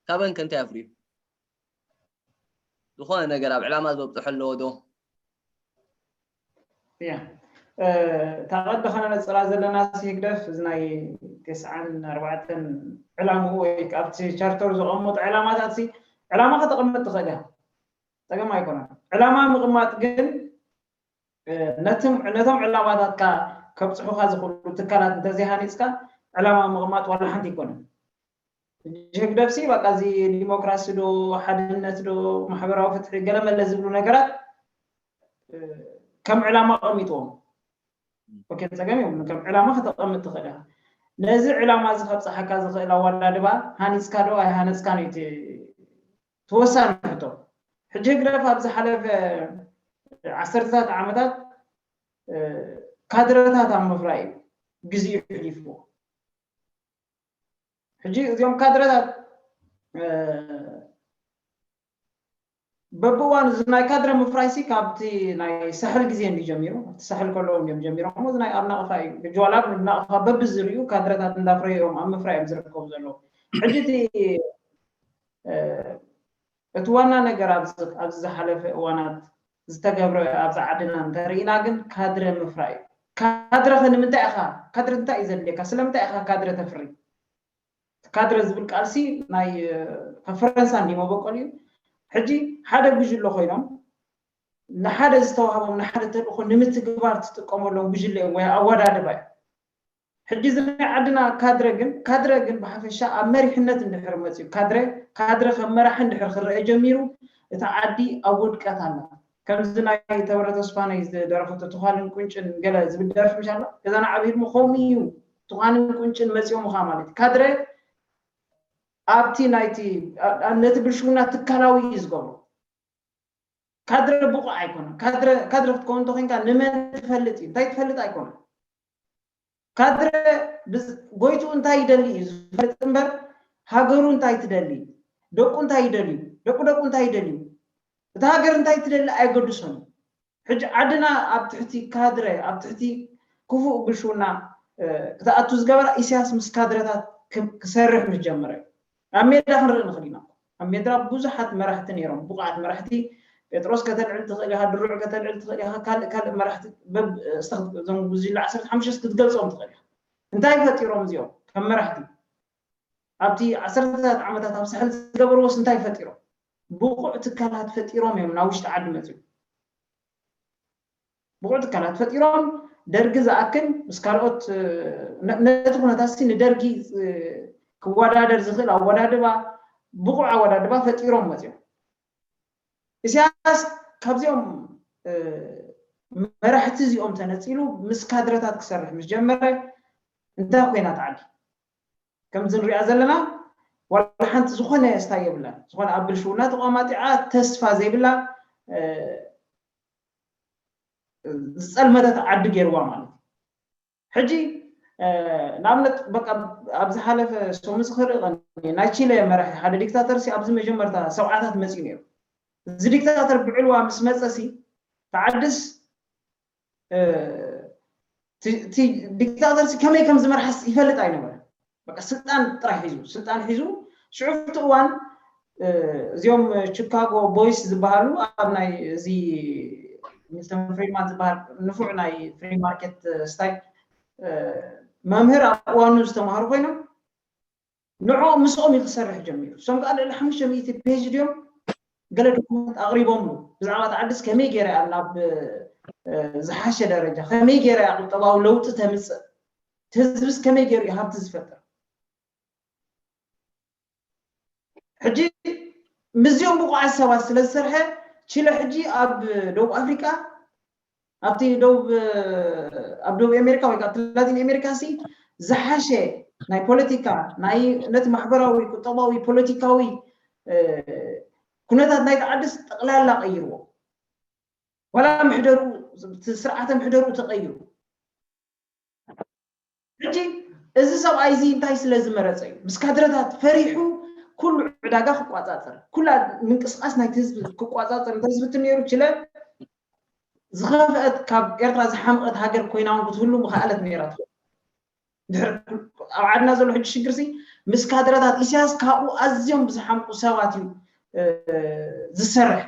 ካበን ከ እንታይ ኣፍርዩ? ዝኾነ ነገር ኣብ ዕላማ ዘብጽሖ ኣለዎ ዶ? እያ እታ ቀዲ ከነነፅራ ዘለና ህግደፍ እዚ ናይ ቴስዓን ኣርባዕተን ዕላምኡ ወይ ከዓ ኣብቲ ቻርተር ዘቐመጡ ዕላማታት ሲ ዕላማ ከተቐምጥ ትኽእል እያ ፀገም ኣይኮነን ዕላማ ምቕማጥ ግን ነቶም ዕላማታትካ ከብፅሑካ ዝኽእሉ ትካላት እንተዘይሃኒፅካ ዕላማ ምቕማጥ ዋላ ሓንቲ ኣይኮነን ህግደፍሲ በቃ እዚ ዲሞክራሲ ዶ ሓድነት ዶ ማሕበራዊ ፍትሒ ገለመለ ዝብሉ ነገራት ከም ዕላማ ቀሚጥዎም ኦኬ ፀገም የብሉን ከም ዕላማ ከተቐምጥ ትኽእል ኢኻ ነዚ ዕላማ እዚ ከብፅሓካ ዝኽእል ኣወዳድባ ሃኒፅካ ዶ ኣይሃነፅካን እዩ እቲ ተወሳኒ ሕቶ ሕጂ ህግደፍ ኣብ ዝሓለፈ ዓሰርተታት ዓመታት ካድረታት ኣብ ምፍራይ እዩ ግዜኡ ሕሊፍዎ ሕጂ እዚኦም ካድረታት በብእዋኑ እዚ ናይ ካድረ ምፍራይ ሲ ካብቲ ናይ ሳሕል ግዜ እንዲ ጀሚሩ ኣብቲ ሳሕል ከለዉ እዮም ጀሚሮሞ እዚ ናይ ኣብ ናቕፋ እዩ ሕጂ ዋላ ናቕፋ በቢ ዝርዩ ካድረታት እንዳፍረዩ እዮም ኣብ ምፍራይ እዮም ዝርከቡ ዘለዉ ሕጂ እቲ እቲ ዋና ነገር ኣብዚ ኣብዚ ዝሓለፈ እዋናት ዝተገብረ ኣብዚ ዓድና እንተሪኢና ግን ካድረ ምፍራይ እዩ። ካድረ ከ ንምንታይ ኢኻ ካድረ እንታይ እዩ ዘድልየካ ስለምንታይ ኢኻ ካድረ ተፍሪ? እቲ ካድረ ዝብል ቃልሲ ናይ ካብ ፈረንሳ እንድዩ መበቆል እዩ። ሕጂ ሓደ ጉጅለ ኮይኖም ንሓደ ዝተዋህቦም ንሓደ ተልእኾ ንምትግባር ትጥቀመሎም ጉጅለ እዮም ወይ ኣወዳድባ እዩ። ሕጂ እዚ ናይ ዓድና ካድረ ግን ካድረ ግን ብሓፈሻ ኣብ መሪሕነት እንድሕር መጽዩ ካድረ ካድረ ከም መራሒ እንድሕር ክረኣ ጀሚሩ እታ ዓዲ ኣብ ውድቀት ኣላ ከምዚ ናይ ተወረ ተስፋነይ ዝደረፈቶ ትዃንን ቁንጭን ገለ ዝብል ደርፊ ምሽ ኣሎ ከዛ ንዓ ብሂድሞ ከምኡ ኢዩ ትዃንን ቁንጭን መጽዮምኻ ማለት ኢዩ ካድረ ኣብቲ ናይቲ ነቲ ብልሽውና ትካላዊ ኢዩ ዝገብሮ ካድረ ብቑዕ ኣይኮነን ካድረ ካድረ ክትከውን እንተ ኮንካ ንመን ትፈልጥ ኢዩ እንታይ ትፈልጥ ኣይኮነን ካድረ ጎይትኡ እንታይ ይደሊ እዩ ዝፈልጥ እምበር ሃገሩ እንታይ ትደሊ ደቁ እንታይ ይደልዩ ደቂ ደቁ እንታይ ይደልዩ እታ ሃገር እንታይ ትደሊ ኣየገድሶን እዩ ሕጂ ዓድና ኣብ ትሕቲ ካድረ ኣብ ትሕቲ ክፉእ ብልሽውና ክትኣቱ ዝገበራ ኢሳያስ ምስ ካድረታት ክሰርሕ ምስ ጀመረ እዩ ናብ ሜዳ ክንርኢ ንኽል ኢና እኮ ኣብ ሜዳ ብዙሓት መራሕቲ ኔሮም ብቑዓት መራሕቲ ጴጥሮስ ከተልዕል ትኽእል ኢኻ ድሩዕ ከተልዕል ትኽእል ኢኻ ካልእ ካልእ መራሕቲ በብ እዞም ጉጅለ ዓሰርተ ሓሙሽተስ ክትገልጾም ትኽእል ኢኻ እንታይ ፈጢሮም እዚኦም ከም መራሕቲ ኣብቲ ዓሰርተታት ዓመታት ኣብ ሳሕል ዝገበርዎስ እንታይ ፈጢሮም ብቑዕ ትካላት ፈጢሮም እዮም ናብ ውሽጢ ዓዲ መጺኦም ብቑዕ ትካላት ፈጢሮም ደርጊ ዝኣክል ምስ ካልኦት ነቲ ኩነታትሲ ንደርጊ ክወዳደር ዝኽእል ኣወዳድባ ብቑዕ ኣወዳድባ ፈጢሮም መፂኦም። ኢሳያስ ካብዚኦም መራሕቲ እዚኦም ተነፂሉ ምስ ካድረታት ክሰርሕ ምስ ጀመረ እንታይ ኮይና እታ ዓዲ? ከምዚ ንሪኣ ዘለና ዋላ ሓንቲ ዝኾነ ስታይ የብላን። ዝኾነ ኣብ ብልሽውና ተቋማጢዓ ተስፋ ዘይብላ ዝጸልመተት ዓዲ ጌርዋ ማለት እዩ። ሕጂ ንኣብነት በቃ ኣብ ዝሓለፈ ሰሙን ዝክርእ ናይ ቺለ መራሒ ሓደ ዲክታተር ሲ ኣብዚ መጀመርታ ሰብዓታት መጺኡ ነይሩ። እዚ ዲክታተር ብዕልዋ ምስ መጸ ሲ እቲ ዓድስ እቲ ዲክታተርሲ ከመይ ከም ዝመርሓስ ይፈልጥ ኣይነበረን በቃ ስልጣን ጥራይ ሒዙ ስልጣን ሒዙ ሽዑብቲ እዋን እዚኦም ቺካጎ ቦይስ ዝበሃሉ ኣብ ናይ እዚ ሚልተን ፍሪድማን ዝበሃል ንፉዕ ናይ ፍሪ ማርኬት ስታይ መምህር ኣብ እዋኑ ዝተማሃሩ ኮይኖም ንዕኦም ምስኦም እዩ ክሰርሕ ጀሚሩ። እሶም ከኣ ልዕሊ ሓሙሽተ ሚእቲ ፔጅ ድዮም ገለ ዶኩመንት ኣቕሪቦምሉ። ብዛዕባ እታ ዓድስ ከመይ ገይራ እያ ናብ ዝሓሸ ደረጃ ከመይ ገይራ እያ ቁጠባዊ ለውጢ ተምጽእ እቲ ህዝብስ ከመይ ገይሩ እዩ ሃብቲ ዝፈጥር ሕጂ ምስዚኦም ብቑዓት ሰባት ስለ ዝሰርሐ ቺለ ሕጂ ኣብ ደቡብ ኣፍሪቃ ኣብቲ ደቡብ ኣብ ደቡብ ኣሜሪካ ወይ ከኣ ኣብቲ ላቲን ኣሜሪካሲ ዝሓሸ ናይ ፖለቲካ ናይ ነቲ ማሕበራዊ ቁጠባዊ ፖለቲካዊ ኩነታት ናይቲ ዓድስ ጠቕላላ ቀይርዎ ዋላ ምሕደርኡ ስርዓተ ምሕደርኡ ተቐይሩ ሕጂ እዚ ሰብኣይ እዚ እንታይ ስለ ዝመረጸ እዩ ምስ ካድረታት ፈሪሑ ኩሉ ዕዳጋ ክቋጻጸር ኩላ ምንቅስቃስ ናይቲ ህዝቢ ክቋጻጸር እንተዝፍትን ነይሩ ችለ ዝኸፍአት ካብ ኤርትራ ዝሓምቐት ሃገር ኮይና እውን ክትህሉ ምኸኣለት ነይራ ትኸውን ድሕሪ ኣብ ዓድና ዘሎ ሕጂ ሽግር ሲ ምስ ካድረታት ኢሳያስ ካብኡ ኣዝዮም ብዝሓምቁ ሰባት እዩ ዝሰርሕ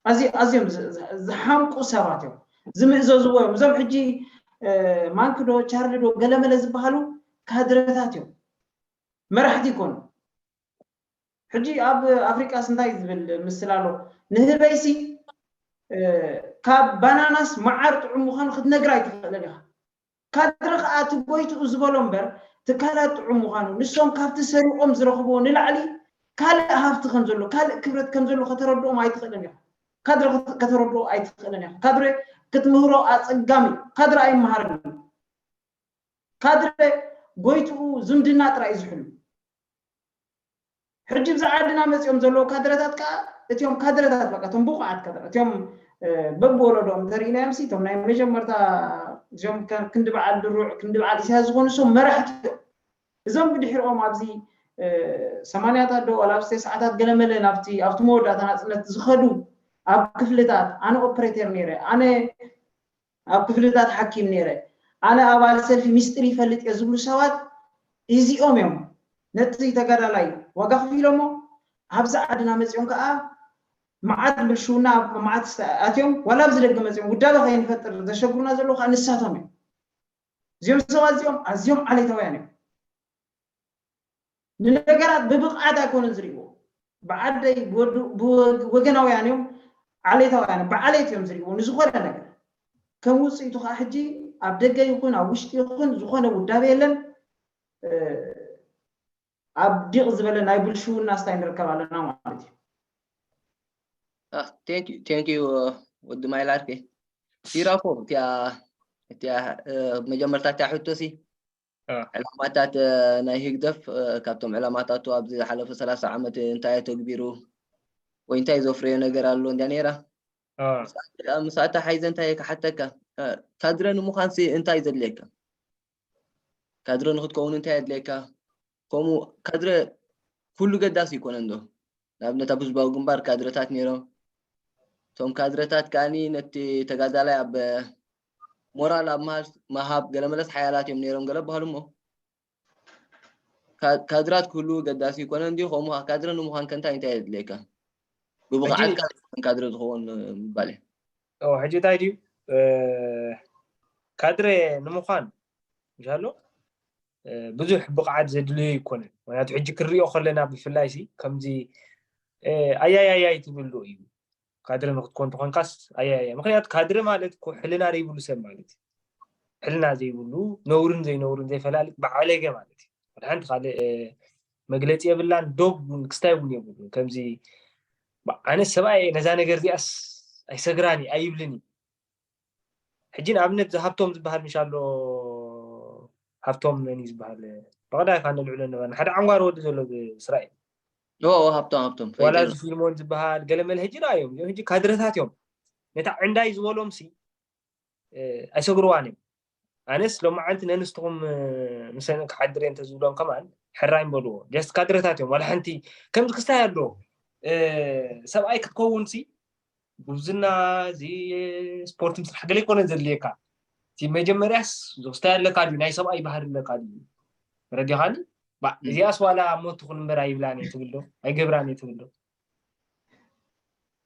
ኣዝዮ ኣዝዮም ዝሓምቁ ሰባት እዮም ዝምእዘዝዎ እዮም እዞም ሕጂ ማንኪ ዶ ቻርሊ ዶ ገለመለ ዝበሃሉ ካድረታት እዮም መራሕቲ ይኮኑ ሕጂ ኣብ ኣፍሪቃስ እንታይ ዝብል ምስላ ኣሎ ንህበይሲ ካብ ባናናስ መዓር ጥዑም ምዃኑ ክትነግራ ኣይትኽእልን ኢኻ ካድረ ከኣ እቲ ጎይትኡ ዝበሎ እምበር ትካላት ጥዑም ምዃኑ፣ ንሶም ካብቲ ሰሪቖም ዝረኽብዎ ንላዕሊ ካልእ ሃፍቲ ከም ዘሎ፣ ካልእ ክብረት ከም ዘሎ ከተረድኦም ኣይትኽእልን ኢኻ። ካድረ ከተረድኦ ኣይትኽእልን ኢኻ። ካድረ ክትምህሮ ኣጸጋሚ እዩ። ካድረ ኣይመሃርን እዩ። ካድረ ጎይትኡ ዝምድና ጥራይ እዩ ዝሕሉ። ሕጂ እብዚ ዓድና መጺኦም ዘለዉ ካድረታት ከኣ እቲኦም ካድረታት በቃ እቶም ብቑዓት ካድረ እቲኦም በብወለዶኦም እንተርኢናዮም ሲ እቶም ናይ መጀመርታ እዚኦም ክንዲ በዓል ድሩዕ ክንዲ በዓል ኢሳያስ ዝኾኑ እሶም መራሕቲ እዮም እዞም ብድሕሪኦም ኣብዚ ሰማንያታት ዶ ዋላ ኣብዚ ተስዓታት ገለመለ ናብቲ ኣብቲ መወዳእታ ናጽነት ዝኸዱ ኣብ ክፍልታት ኣነ ኦፕሬተር ነይረ ኣነ ኣብ ክፍልታት ሓኪም ነይረ። ኣነ ኣባል ሰልፊ ሚስጢር ይፈልጥ እየ ዝብሉ ሰባት ኢዚኦም እዮም። ነቲ ተጋዳላይ ዋጋ ኣኽፊሎሞ ኣብዚ ዓድና መጺኦም ከኣ መዓት ብልሽውና ኣብ መዓት ኣትዮም ዋላ ኣብዚ ደገ መጺኦም ውዳበ ከይንፈጥር ዘሸግሩና ዘለዉ ከኣ ንሳቶም እዮም። እዚኦም ሰባት እዚኦም ኣዝዮም ዓሌታውያን እዮም። ንነገራት ብብቕዓት ኣይኮኑን ዝርእይዎ። ብዓደይ ብወገናውያን እዮም፣ ዓሌታውያን እዮም፣ ብዓሌት እዮም ዝርእይዎ ንዝኾነ ነገር። ከም ውጽኢቱ ከኣ ሕጂ ኣብ ደገ ይኹን ኣብ ውሽጢ ይኹን ዝኾነ ውዳበ የለን። ኣብ ዲቕ ዝበለ ናይ ብልሽውና ስታይ ንርከብ ኣለና ማለት እዩ። ቴንክ ዩ ወዲ ማይ ላርፌ ሲራፎ እቲያ መጀመርታ እቲያ ሕቶሲ ዕላማታት ናይ ህግደፍ ካብቶም ዕላማታቱ ኣብዚ ዝሓለፈ ሰላሳ ዓመት እንታይ ኣተግቢሩ ወይ እንታይ ዘፍረዮ ነገር ኣሎ እንድያ ነይራ ምስኣ ተሓይዘ እንታይ ክሓተካ ካድረ ንምዃንሲ እንታይ እዩ ዘድልየካ ካድረ ንክትከውን እንታይ የድልየካ ከምኡ ካድረ ኩሉ ገዳሲ ይኮነን ዶ ንኣብነት ኣብ ህዝባዊ ግንባር ካድረታት ነይሮም እቶም ካድረታት ከዓኒ ነቲ ተጋዳላይ ኣብ ሞራል ኣብ ምሃብ ገለ መለስ ሓያላት እዮም ነይሮም ገለ በሃሉ እሞ ካድራት ክህልው ገዳሲ ይኮነን ድዩ ከምኡ ካድረ ንምዃን ከንታይ እንታይ የድልየካ ብብቕዓትካ ካድረ ዝኸውን ምባል እዩ ሕጂ እንታይ ድዩ ካድረ ንምዃን ይሻሎ ብዙሕ ብቕዓት ዘድልዮ ይኮነን ምክንያቱ ሕጂ ክንሪኦ ከለና ብፍላይ ሲ ከምዚ ኣያያያይ ትብሉ እዩ ካድረ ንክትኮን ተኾንካስ ኣያያያ ምኽንያቱ ካድረ ማለት እኮ ሕልና ዘይብሉ ሰብ ማለት እዩ ሕልና ዘይብሉ ነውርን ዘይነውርን ዘይፈላልጥ ብዓለገ ማለት እዩ ወላ ሓንቲ ካልእ መግለፂ የብላን ዶብ እውን ክስታይ እውን የብሉን ከምዚ ኣነ ሰብኣይ ነዛ ነገር እዚኣስ ኣይሰግራን እዩ ኣይብልን እዩ ሕጂ ንኣብነት እዚ ሃብቶም ዝበሃል ምሽ ኣሎ ሃብቶም መን እዩ ዝበሃል ብቐዳይ ካ ነልዕሎ ነበርና ሓደ ዓንጓሮ ወዲ ዘሎ ብእስራኤል ኦ ሃብቶም ሃብቶም ፈይደ ዋላ እዚ ፊልሞን ዝበሃል ገለመለ ሕጂ ረኣዮም እዚኦም ሕጂ ካድረታት እዮም ነታ ዕንዳይ ዝበሎምሲ ኣይሰግርዋን እዮም ኣነስ ሎማዓንቲ ነንስትኹም ምሰን ክሓድር እየ እንተዝብሎም ከማን ሕራይ ምበልዎ ጀስት ካድረታት እዮም ዋላ ሓንቲ ከምዚ ክስታይ ኣሎ ሰብኣይ ክትከውን ሲ ጉብዝና እዚ ስፖርት ምስራሕ ገለ ይኮነ ዘድልየካ እቲ መጀመርያስ ዝክስታይ ኣለካ ድዩ ናይ ሰብኣይ ባህሪ ኣለካ ድዩ ረዲኻኒ እዚኣስ ዋላ ሞት ትኹን እምበር ኣይብላን እየ ትብል ዶ ኣይገብራን እየ ትብል ዶ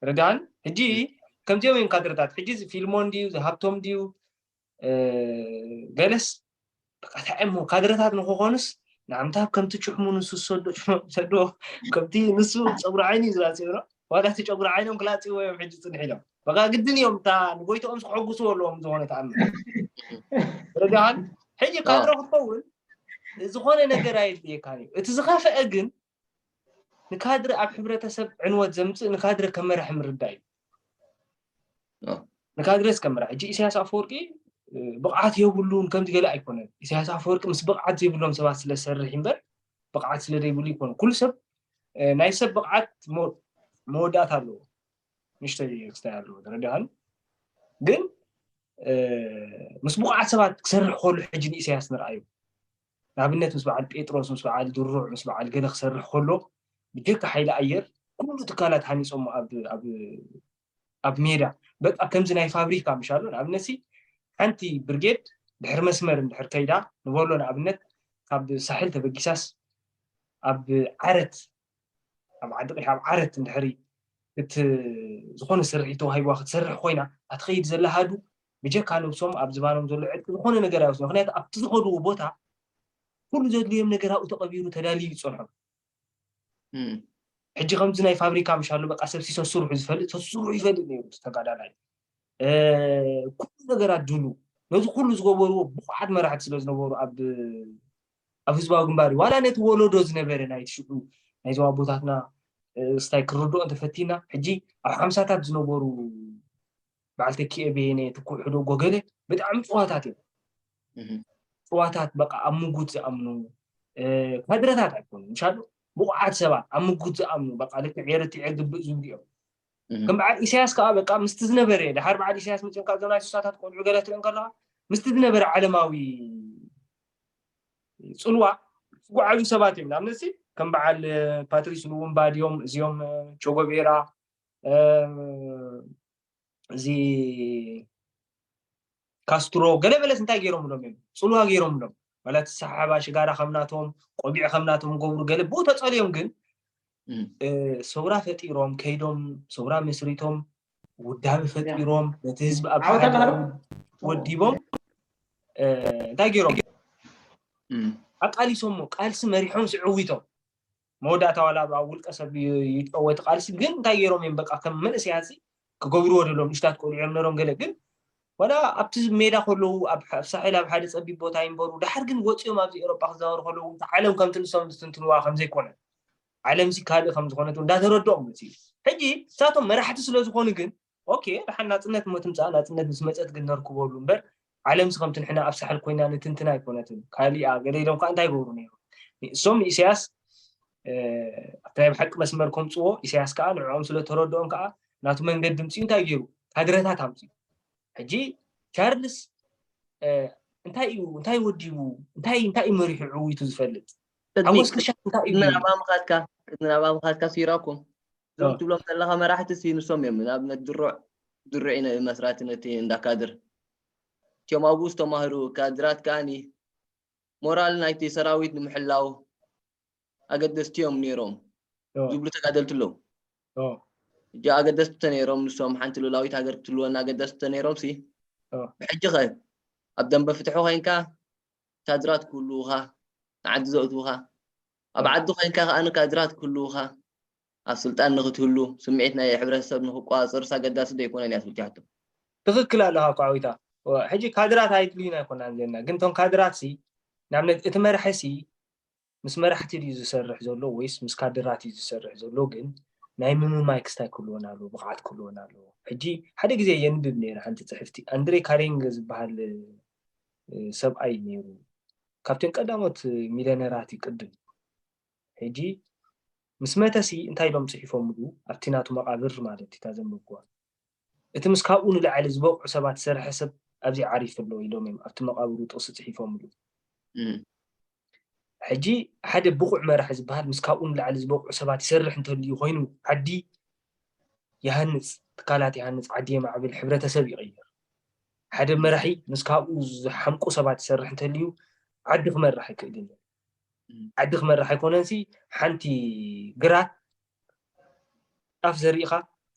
ረዳን ሕጂ ከምዚኦም እዮም ካድረታት ሕጂ ፊልሞን ድዩ ዝሃብቶም ድዩ በለስ በቃ እንታይ እሞ ካድረታት ንክኾኑስ ንዓምታብ ከምቲ ጭሕሙ ንሱ ዝሰዶ ጭሕሙ ሰዶ ከምቲ ንሱ ፀጉሪ ዓይኒ እዩ ዝላፅዮ ዶ ዋላ እቲ ጨጉሪ ዓይኖም ክላፅዎ እዮም ሕጂ ፅንሕ ኢሎም በቃ ግድን እዮም እታ ንጎይትኦም ክሕጉስዎ ኣለዎም ዝኾነ ተኣምር ረዳኻን ሕጂ ካድረ ክትከውን ዝኾነ ነገር ኣየድልየካን እዩ እቲ ዝኸፍአ ግን ንካድረ ኣብ ሕብረተሰብ ዕንወት ዘምፅእ ንካድረ ከም መራሒ ምርዳእ እዩ ንካድረስ ከም መራሒ ሕጂ ኢሳያስ ኣፈወርቂ ብቕዓት የብሉን ከምዚ ገለ ኣይኮነን ኢሳያስ ኣፈወርቂ ምስ ብቕዓት ዘይብሎም ሰባት ስለ ዝሰርሕ እምበር ብቕዓት ስለ ዘይብሉ ይኮነ ኩሉ ሰብ ናይ ሰብ ብቕዓት መወዳእታ ኣለዎ ንሽተይ ክስታይ ኣለዎ ተረዲኻኒ ግን ምስ ብቑዓት ሰባት ክሰርሕ ከሉ ሕጂ ንኢሳያስ ንርኣዩ ንኣብነት ምስ በዓል ጴጥሮስ፣ ምስ በዓል ድሩዕ፣ ምስ በዓል ገለ ክሰርሕ ከሎ ብጀካ ሓይሊ ኣየር ኩሉ ትካላት ሃኒጾሞ ኣብ ኣብ ሜዳ በቃ ከምዚ ናይ ፋብሪካ ምሻሉ ንኣብነትሲ ሓንቲ ብርጌድ ድሕሪ መስመር እንድሕር ከይዳ ንበሎ ንኣብነት ካብ ሳሕል ተበጊሳስ ኣብ ዓረት ኣብ ዓዲ ቂሕ ኣብ ዓረት እንድሕሪ እት ዝኾነ ስርሒት ተዋሂብዋ ክትሰርሕ ኮይና ኣትኸይድ ዘላ ሃዱ ብጀካ ነብሶም ኣብ ዝባኖም ዘሎ ዕጥቂ ዝኾነ ነገር ኣይወስዱ ምክንያቱ ኣብቲ ዝኸድዎ ቦታ ኩሉ ዘድልዮም ነገር ኣብኡ ተቐቢሩ ተዳልዩ ይጸንሖም ሕጂ ከምዚ ናይ ፋብሪካ ምሽ ኣሎ በቃ ሰብ ሲሶ ስርሑ ዝፈልጥ ሰሱ ስርሑ ይፈልጥ ነይሩ ተጋዳላይ ኩሉ ነገራት ድሉ ነዚ ኩሉ ዝገበርዎ ብቑዓት መራሕቲ ስለ ዝነበሩ ኣብ ኣብ ህዝባዊ ግንባር ዋላ ነቲ ወለዶ ዝነበረ ናይቲ ሽዑ ናይዞም ኣቦታትና ስታይ ክርድኦ እንተፈቲና ሕጂ ኣብ ሓምሳታት ዝነበሩ በዓል ተኪኤ በየነ ትኩሕዶ ጎገለ ብጣዕሚ ፅዋታት እዮም ፅዋታት በቃ ኣብ ምጉት ዝኣምኑ ካድረታት ኣይኮኑ ምሻሉ ብቑዓት ሰባት ኣብ ምጉት ዝኣምኑ በቃ ልክዕ ኤርትዐ ግብእ ዝብሉ እዮም ከም በዓል ኢሳያስ ከዓ በቃ ምስቲ ዝነበረ ድሓር በዓል ኢሳያስ መፅንካ እዞም ናይ ስሳታት ቆልዑ ገለ ትርኢ ከለካ ምስቲ ዝነበረ ዓለማዊ ፅልዋ ዝጓዓዙ ሰባት እዮም ንኣብነት ከም በዓል ፓትሪስ ሉሙምባ ድዮም እዚኦም ቾጎቤራ እዚ ካስትሮ ገለ መለስ እንታይ ገይሮምሎም እዮም ፅልዋ ገይሮምሎም ማለት ሰሓባ ሽጋራ ከምናቶም ቆቢዕ ከምናቶም ገብሩ ገለ ብኡ ተፀልዮም ግን ሰውራ ፈጢሮም ከይዶም ሰውራ መስሪቶም ውዳቢ ፈጢሮም ነቲ ህዝቢ ኣብ ወዲቦም እንታይ ገይሮም ኣቃሊሶሞ ቃልሲ መሪሖም ስዕዊቶም መወዳእታ ዋላ ኣብ ውልቀ ሰብ ይጨወቲ ቃልሲ ግን እንታይ ገይሮም እዮም በቃ ከም መንእሰያት ክገብርዎ ደለዎም ንእሽታት ቆልዑ እዮም ነሮም ገለ ግን ዋላ ኣብቲ ሜዳ ከለዉ ኣብ ሳሕል ኣብ ሓደ ጸቢብ ቦታ ይንበሩ ደሓር ግን ወጽዮም ኣብዚ ኤውሮጳ ክዛወሩ ከለዉ እውን ዓለም ከምቲ ንሶም ዝትንትንዋ ከም ዘይኮነ ዓለምሲ ካልእ ከም ዝኾነት እውን እንዳተረድኦም መጽዩ ሕጂ ንሳቶም መራሕቲ ስለ ዝኾኑ ግን ኦኬ ደሓን ናጽነት እሞ ትምጻእ ናጽነት ምስ መጸት ግን ነርክበሉ እምበር ዓለምሲ ከምቲ ንሕና ኣብ ሳሕል ኮይና ንትንትና ኣይኮነትን ካሊኣ ገለ ኢሎም ከኣ እንታይ ይገብሩ ነይሮም እሶም ንኢሳያስ ኣብቲ ናይ ብሓቂ መስመር ከምፅዎ ኢሳያስ ከኣ ንዕኦም ስለተረድኦም ከኣ ናቱ መንገዲ ምፅኡ እንታይ ገይሩ ካድረታት ኣምፅኡ ሕጂ ቻርልስ እንታይ እዩ እንታይ ወዲቡ እንታይ እንታይ እዩ መሪሑ ዕውይቱ ዝፈልጥ ሓጎስ ክሻ እንታይ እዩ ናብ ኣምኻትካ ናብ ኣምኻትካ ሲራኩም እዞም እ ትብሎም ዘለኻ መራሕቲ ሲ ንሶም እዮም ንኣብነት ድሩዕ ድሩዒ ን መስራቲ ነቲ እንዳ ካድር እቲኦም ኣብኡ ዝተማህሩ ካድራት ከኣ ሞራል ናይቲ ሰራዊት ንምሕላው ኣገደስቲ እዮም ኔሮም ዝብሉ ተጋደልቲ ኣለዉ ሕጂ ኣገደስቲ ተነይሮም ንሶም ሓንቲ ሉላዊት ሃገር ክትህልወና ኣገደስቲ ተነይሮም ሲ ብሕጂ ከ ኣብ ደምበ ፍትሒ ኮይንካ ካድራት ክህልዉኻ ንዓዲ ዘእትዉኻ ኣብ ዓዲ ኮይንካ ከኣ ካድራት ክህልዉኻ፣ ኣብ ስልጣን ንክትህሉ፣ ስምዒት ናይ ሕብረተሰብ ንክቆጻጸሩስ ኣገዳሲ ዶ ኣይኮነን እያ ትብል ትሕቶ። ትክክል ኣለኻ ኳዕዊታ እወ ሕጂ ካድራት ኣይድልዩና ኣይኮናን ዘለና ግን እቶም ካድራት ሲ ንኣብነት እቲ መራሒ ሲ ምስ መራሕቲ ድዩ ዝሰርሕ ዘሎ ወይስ ምስ ካድራት እዩ ዝሰርሕ ዘሎ ግን ናይ ምምማይ ክስታይ ክህልወና ኣለዎ ብቕዓት ክህልወና ኣለዎ ሕጂ ሓደ ግዜ የንብብ ነይረ ሓንቲ ጽሕፍቲ ኣንድሬ ካሬንገ ዝበሃል ሰብኣይ ነይሩ ካብቶም ቀዳሞት ሚልዮነራት እዩ ቅድም ሕጂ ምስ መተ ሲ እንታይ ኢሎም ጽሒፎምሉ ኣብቲ ናቱ መቓብር ማለት እዩ እታ ዘንበብኩዋ እቲ ምስ ካብኡ ንላዕሊ ዝበቕዑ ሰባት ዝሰርሐ ሰብ ኣብዚ ዓሪፉ ኣሎ ኢሎም እዮም ኣብቲ መቓብሩ ጥቕሲ ጽሒፎምሉ ሕጂ ሓደ ብቑዕ መራሒ ዝበሃል ምስ ካብኡ ንላዕሊ ዝበቕዑ ሰባት ይሰርሕ እንተልዩ ኮይኑ ዓዲ ይሃንጽ ትካላት ይሃንጽ ዓዲ የማዕብል ሕብረተሰብ ይቕይር ሓደ መራሒ ምስ ካብኡ ዝሓምቁ ሰባት ይሰርሕ እንተልዩ ዓዲ ክመርሕ ኣይክእልን እዩ። ዓዲ ክመርሕ ኣይኮነንሲ ሓንቲ ግራት ጣፍ ዘሪእኻ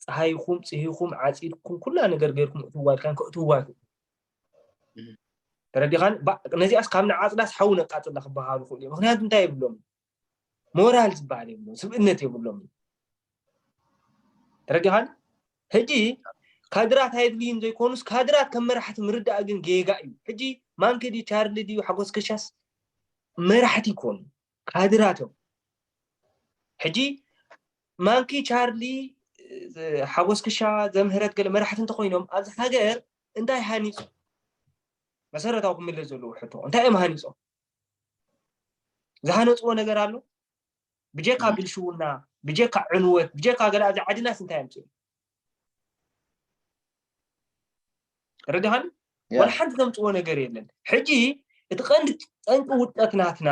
ፀሃይኹም ፅሂኹም ዓፂድኩም ኩላ ነገር ገይርኩም እትዋ ድካን ከእትዋ ኣይክእሉ ተረዲኻን ነዚኣስ ካብ ንዓፅዳስ ሓዊ ነቃፅላ ክበሃሉ ክእሉ ምክንያቱ እንታይ የብሎም ሞራል ዝበሃል የብሎ ስብእነት የብሎም ተረዲኻን ሕጂ ካድራት ኣይድልዩን ዘይኮኑስ ካድራት ከም መራሕቲ ምርዳእ ግን ጌጋ እዩ ሕጂ ማንኪ ድዩ ቻርሊ ድዩ ሓጎስ ከሻስ መራሕቲ ይኮኑ ካድራት እዮም ሕጂ ማንኪ ቻርሊ ሓጎስ ክሻ ዘምህረት ገለ መራሕቲ እንተኮይኖም ኣብዚ ሃገር እንታይ ሃኒፁ መሰረታዊ ክምለስ ዘለዎ ሕቶ እንታይ እዮም ሃኒፆም ዝሃነፅዎ ነገር ኣሎ ብጀካ ብልሽውና ብጀካ ዕንወት ብጀካ ገለ ኣብዚ ዓድናስ እንታይ ኣምፅኡ ርድሃን ወላ ሓንቲ ዘምፅዎ ነገር የለን ሕጂ እቲ ቀንዲ ጠንቂ ውድቀት ናትና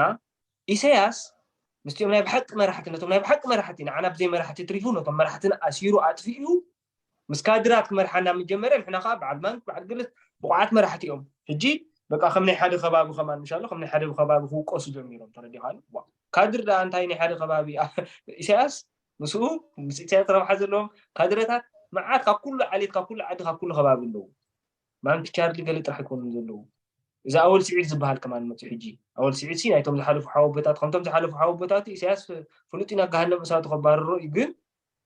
ኢሳያስ ምስቲኦም ናይ ብሓቂ መራሕቲ ነቶም ናይ ብሓቂ መራሕቲ ንዓና ብዘይ መራሕቲ ትሪፉ ነቶም መራሕትን ኣሲሩ ኣጥፊኡ ምስ ካድራት ክመርሓና ምስ ጀመረ ንሕና ከኣ በዓል ባንክ በዓል ግል ብቑዓት መራሕቲ እዮም ሕጂ በቃ ከም ናይ ሓደ ከባቢ ከማን ምሻሎ ከም ናይ ሓደ ከባቢ ክውቀሱ ጀሚሮም ተረዲኻኒ ዋእ ካድር ደኣ እንታይ ናይ ሓደ ከባቢ ኢሳያስ ምስኡ ምስ ኢሳያስ ረብሓ ዘለዎም ካድረታት መዓት ካብ ኩሉ ዓሌት ካብ ኩሉ ዓዲ ካብ ኩሉ ከባቢ ኣለዉ ማንኪ ቻርሊ ገለ ጥራሕ ኣይኮኑን ዘለዉ እዚ ኣወል ስዒድ ዝበሃል ከማን መፅኡ ሕጂ ኣወል ስዒድ ሲ ናይቶም ዝሓለፉ ሓወቦታት ከምቶም ዝሓለፉ ሓወቦታቱ ኢሳያስ ፍሉጥ ኢና ገሃነም እሳቱ ከባርሮ እዩ ግን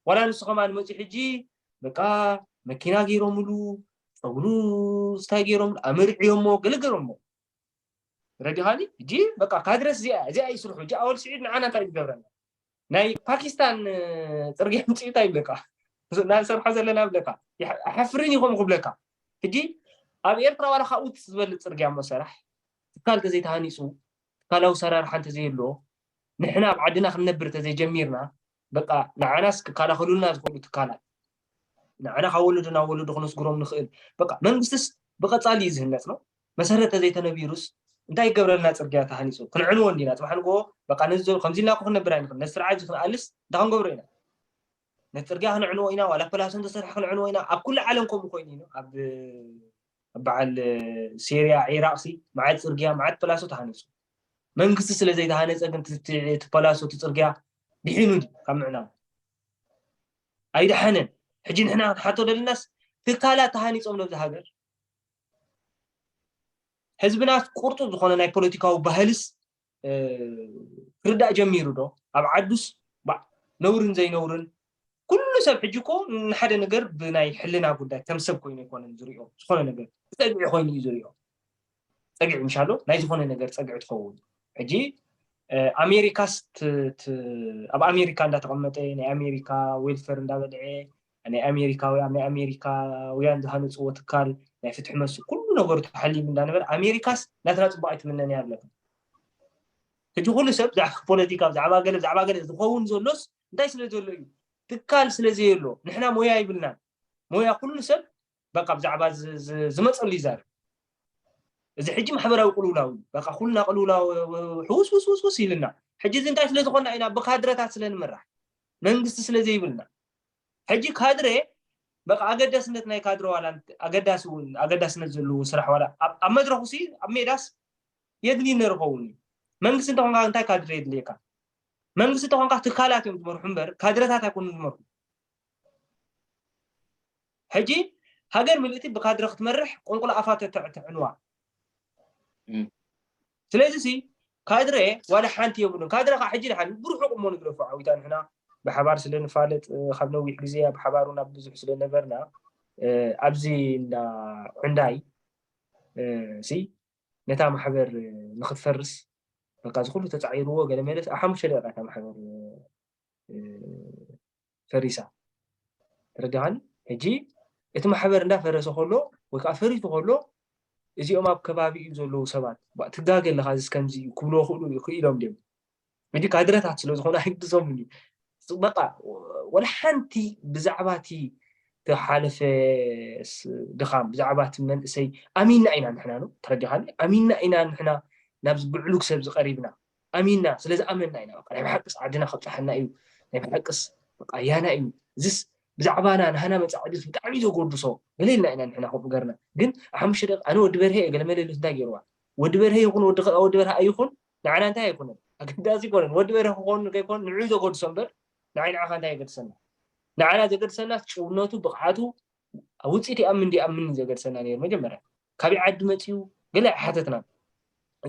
ዋላ ንሱ ከማን መጺኡ ሕጂ በቃ መኪና ገይሮምሉ ጸጉሩ ስታይ ገይሮምሉ ኣመርዕዮሞ ገለ ገይሮሞ ረዲኻኒ ሕጂ በቃ ካድረስ እዚኣ እዚኣ እዩ ስርሑ ሕጂ ኣወል ስዒድ ንዓና እንታይ ዝገብረና ናይ ፓኪስታን ጽርግያ ምጽኡ እንታይ ይብለካ ናንሰርሖ ዘለና ብለካ ኣሕፍርን ይኸም ክብለካ ሕጂ ኣብ ኤርትራ ዋላ ካብኡ ዝበልፅ ፅርግያ እሞ ሰራሕ ትካል ተዘይተሃኒፁ ትካላዊ ሰራርሓ እንተዘየሎ ንሕና ኣብ ዓድና ክንነብር ተዘይጀሚርና በቃ ንዓናስ ክከላኸሉልና ዝኽእሉ ትካላት ንዓና ካብ ወለዶ ናብ ወለዶ ክነስግሮም ንኽእል በቃ መንግስትስ ብቐጻሊ እዩ ዝህነጽ ነው መሰረት ተዘይተነቢሩስ እንታይ ይገብረልና ጽርግያ ተሃኒጹ ክንዕንዎ እንዲና ጽባሕ ንግሆ በቃ ነዚ ከምዚ ኢልና ክንነብር ኣይንኽእል ነዚ ስርዓት እዚ ክንኣልስ እንታይ ክንገብሮ ኢና ነቲ ጽርግያ ክንዕንዎ ኢና ዋላ ፐላሶ እንተሰርሐ ክንዕንዎ ኢና ኣብ ኩሉ ዓለም ከምኡ ኮይኑ እዩ ኣብ በዓል ሴርያ ዒራቕሲ መዓት ጽርግያ መዓት ፐላሶ ተሃኒጹ መንግስቲ ስለ ዘይተሃነፀ ግን እቲ ፓላሶ እቲ ፅርግያ ድሒኑ ድዩ ካብ ምዕናው ኣይደሓነን ሕጂ ንሕና ክንሓቶ ደልናስ ትካላት ተሃኒፆም ነብዚ ሃገር ህዝብናስ ቁርጡ ዝኾነ ናይ ፖለቲካዊ ባህልስ ክርዳእ ጀሚሩ ዶ ኣብ ዓዱስ ነውርን ዘይነውርን ኩሉ ሰብ ሕጂ እኮ ንሓደ ነገር ብናይ ሕልና ጉዳይ ከም ሰብ ኮይኑ ኣይኮነን ዝሪኦ ዝኾነ ነገር ፀግዒ ኮይኑ እዩ ዝሪኦ ፀግዒ ምሻሎ ናይ ዝኾነ ነገር ፀግዒ ትኸውን ሕጂ ኣሜሪካስ ኣብ ኣሜሪካ እንዳተቐመጠ ናይ ኣሜሪካ ዌልፌር እንዳበልዐ ናይ ኣሜሪካውያን ናይ ኣሜሪካውያን ዝሃነፅዎ ትካል ናይ ፍትሒ መስ ኩሉ ነገሩ ተሓሊሙ እንዳነበረ ኣሜሪካስ ናትና ፅቡቅ ኣይትምነን እያ ኣለካ ሕጂ ኩሉ ሰብ ብዛዕባ ፖለቲካ ብዛዕባ ገለ ብዛዕባ ገለ ዝኸውን ዘሎስ እንታይ ስለ ዘሎ እዩ ትካል ስለ ዘየሎ ንሕና ሞያ ይብልናን ሞያ ኩሉ ሰብ በቃ ብዛዕባ ዝመፀሉ ይዛርብ እዚ ሕጂ ማሕበራዊ ቅልውላው እዩ በቃ ኩልና ቅልውላው ሕውስ ውስ ውስ ውስ ኢልና ሕጂ እዚ እንታይ ስለ ዝኾና ኢና ብካድረታት ስለ ንምራሕ መንግስቲ ስለ ዘይብልና ሕጂ ካድረ በቃ ኣገዳስነት ናይ ካድረ ዋላ ኣገዳሲ እውን ኣገዳስነት ዘለዎ ስራሕ ዋላ ኣብ መድረኹ ሲ ኣብ ሜዳስ የድሊ ነርኸውን እዩ መንግስቲ እንተኾንካ እንታይ ካድረ የድልየካ መንግስቲ ተኾንካ ትካላት እዮም ዝመርሑ እምበር ካድረታት ኣይኮኑን ዝመርሑ ሕጂ ሃገር ምልእቲ ብካድረ ክትመርሕ ቁንቁል ኣፋ ተተዕንዋ ስለዚ ሲ ካድረ ዋላ ሓንቲ የብሉን ካድረ ከዓ ሕጂ ድሓን ብርሑቅ እሞ ንግደፎ ዓዊታ ንሕና ብሓባር ስለ ንፋለጥ ካብ ነዊሕ ግዜ ኣብ ሓባር ናብ ብዙሕ ስለ ነበርና ኣብዚ እንዳ ዕንዳይ ሲ ነታ ማሕበር ንክትፈርስ በቃ ዝኩሉ ተጻዒርዎ ገለ መለስ ኣብ ሓሙሽተ ደቂቃ እታ ማሕበር ፈሪሳ ተረዳኻኒ ሕጂ እቲ ማሕበር እንዳ ፈረሰ ከሎ ወይ ከዓ ፈሪቱ ከሎ እዚኦም ኣብ ከባቢኡ ዘለዉ ሰባት ትጋገ ኣለካ እዚ ከምዚ ክብልዎ ክእሉ ክኢሎም ድዮም ሕጂ ካድረታት ስለ ዝኾኑ ኣይግድሶምን እዩ በቃ ወላ ሓንቲ ብዛዕባ እቲ ተሓለፈ ድኻም ብዛዕባ እቲ መንእሰይ ኣሚንና ኢና ንሕና ን ተረዲኻኒ ኣሚንና ኢና ንሕና ናብዚ ብዕሉግ ሰብ ዝቀሪብና ኣሚንና ስለዝኣመንና ኢና ናይ ብሓቅስ ዓድና ከብፅሓና እዩ ናይ ብሓቅስ በቃ ያና እዩ እዚስ ብዛዕባና ንሃና መፃዕዲ ብጣዕሚ ዘጎድሶ ገሌልና ኢና ንሕና ከምኡ ገርና ግን ሓሙሽተ ደቂ ኣነ ወዲ በርሀ እየ ገለመለሉ እንታይ ገይርዋ ወዲ በርሀ ይኹን ወዲ ወዲ በርሀ ኣይኹን ንዓና እንታይ ኣይኮነን ኣገዳሲ ኣይኮነን ወዲ በርሀ ክኾኑ ከይኮኑ ንዑ ዘገድሶ እምበር ንዓይ ንዓኻ እንታይ የገድሰና ንዓና ዘገድሰናስ ጭውነቱ ብቕዓቱ ውፅኢት ይኣምን ዲኣምን ዘገድሰና ነይሩ መጀመርያ ካበይ ዓዲ መፅኡ ገለ ኣይሓተትናን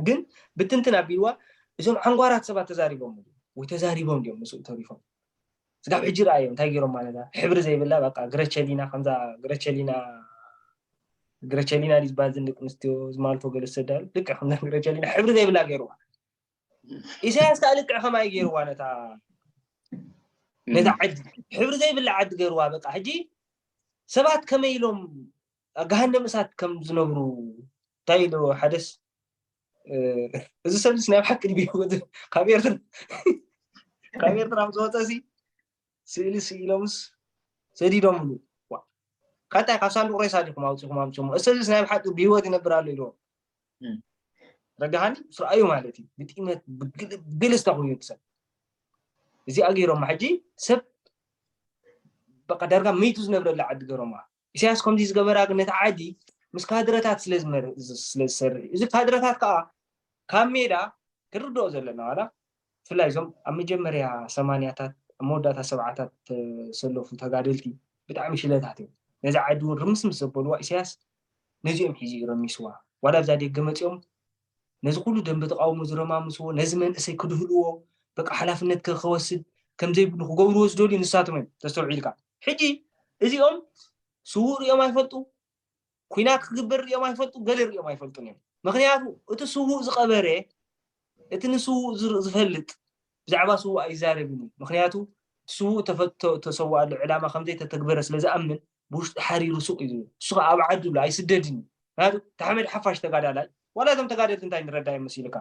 ግን ብትንትን ኣቢልዋ እዞም ዓንጓራት ሰባት ተዛሪቦም ወይ ተዛሪቦም ድዮም ምስኡ ተሪፎም ስጋብ ሕጂ ረኣዮ እንታይ ጌሮማ ነዛ ሕብሪ ዘይብላ በቃ ግረቸሊና ከምዛ ግረቸሊና ግረቸሊና ድዩ ዝበሃል እዘን ደቂ ኣንስትዮ ዝማልቶ ገለ ዝሰዳሉ ልክዕ ከምዛ ግረቸሊና ሕብሪ ዘይብላ ገይርዋ ኢሳያስ ከዓ ልክዕ ከማይ ገይርዋ ነታ ነዛ ዓዲ ሕብሪ ዘይብላ ዓዲ ገይርዋ በቃ ሕጂ ሰባት ከመይ ኢሎም ገሃነም እሳት ከም ዝነብሩ እንታይ ኢሉ ሓደስ እዚ ሰብስ ናይ ሓቂ ካብ ኤርትራ ዝወፀ ሲ ስእሊ ስኢሎምስ ሰዲዶምሉ ካታይ ካብ ሳንዱቅ ሬሳ ዲኹም ኣውፅኹም ኣምፅሞ እዚ ሰብስ ናይ ሓቂ ብሂወት ይነብር ኣሎ ኢልዎም ረጋሃኒ ምስ ረኣዩ ማለት እዩ ብጢመት ብግልስ ተኮይኑ ሰብ እዚኣ ገይሮማ ሕጂ ሰብ በቃ ዳርጋ መይቱ ዝነብረላ ዓዲ ገይሮማ ኢሳያስ ከምዚ ዝገበራ ግን ነቲ ዓዲ ምስ ካድረታት ስለ ዝሰርሕ እዩ እዚ ካድረታት ከዓ ካብ ሜዳ ክንርድኦ ዘለና ዋላ ብፍላይ እዞም ኣብ መጀመርያ ሰማንያታት ኣብ መወዳእታ ሰብዓታት ተሰለፉ ተጋደልቲ ብጣዕሚ ሽለታት እዮም ነዚ ዓዲ እውን ርምስምስ ዘበልዋ ኢሳያስ ነዚኦም ሒዙ እዩ ረሚስዋ ዋላ ኣብዛ ደገ መፂኦም ነዚ ኩሉ ደንበ ተቓውሞ ዝረማምስዎ ነዚ መንእሰይ ክድህልዎ በቃ ሓላፍነት ከከወስድ ከምዘይብሉ ክገብርዎ ዝደልዩ ንሳቶም እዮም ተስተውዒልካ ሕጂ እዚኦም ስዉእ ሪኦም ኣይፈልጡ ኩናት ክግበር ሪኦም ኣይፈልጡ ገለ ሪኦም ኣይፈልጡን እዮም ምክንያቱ እቲ ስዉእ ዝቀበረ እቲ ንስዉእ ዝፈልጥ ብዛዕባ ስዉእ ኣይዛረብን እዩ ምክንያቱ እቲ ስዉእ ተሰዋኣሉ ዕላማ ከምዘይተተግበረ ስለ ዝኣምን ብውሽጢ ሓሪሩ ሱቕ እዩ ዝብል ንሱ ከኣ ኣብ ዓዱ ኣሎ ኣይስደድን እዩ ምክንያቱ ታሕመድ ሓፋሽ ተጋዳላይ ዋላ እዞም ተጋደልቲ እንታይ ንረዳዮም መሲሉካ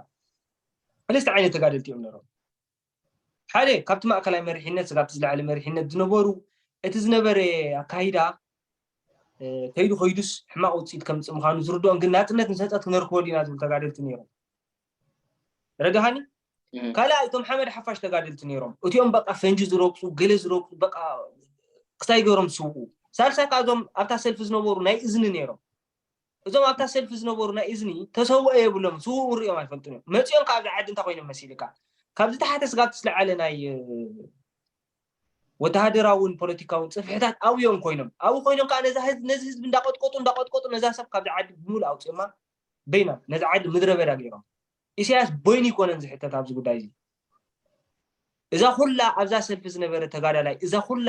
ሰለስተ ዓይነት ተጋደልቲ እዮም ነሮም ሓደ ካብቲ ማእከላይ መሪሕነት ስጋብቲ ዝለዓለ መሪሕነት ዝነበሩ እቲ ዝነበረ ኣካይዳ ከይዱ ከይዱስ ሕማቕ ውፅኢት ከምፅእ ምዃኑ ዝርድኦም ግን ናፅነት ንሰፀት ክነርክበሉ ኢና ዝብሉ ተጋደልቲ ነይሮም ረድሃኒ ካልኣ እቶም ሓመድ ሓፋሽ ተጋደልቲ ነይሮም እቲኦም በቃ ፈንጂ ዝረግፁ ገለ ዝረግፁ በቃ ክሳይ ገይሮም ዝስውኡ ሳልሳይ ከዓ እዞም ኣብታ ሰልፊ ዝነበሩ ናይ እዝኒ ነይሮም እዞም ኣብታ ሰልፊ ዝነበሩ ናይ እዝኒ ተሰውኦ የብሎም ስውኡ ሪኦም ኣይፈልጡን እዮም መፂኦም ካብዚ ዓዲ እንታይ ኮይኖም መሲልካ ካብዚ ተሓተ ስጋብ ትስለዓለ ናይ ወተሃደራውን ፖለቲካውን ፅፍሕታት ኣብዮም ኮይኖም ኣብኡ ኮይኖም ከዓ ነዚ ህዝቢ እንዳቀጥቀጡ እንዳቀጥቀጡ ነዛ ሰብ ካብዚ ዓዲ ብምሉእ ኣውፅኦማ በይና ነዛ ዓዲ ምድረ በዳ ገይሮም ኢሳያስ በይኑ ይኮነን ዝሕተት ኣብዚ ጉዳይ እዚ እዛ ኩላ ኣብዛ ሰልፊ ዝነበረ ተጋዳላይ እዛ ኩላ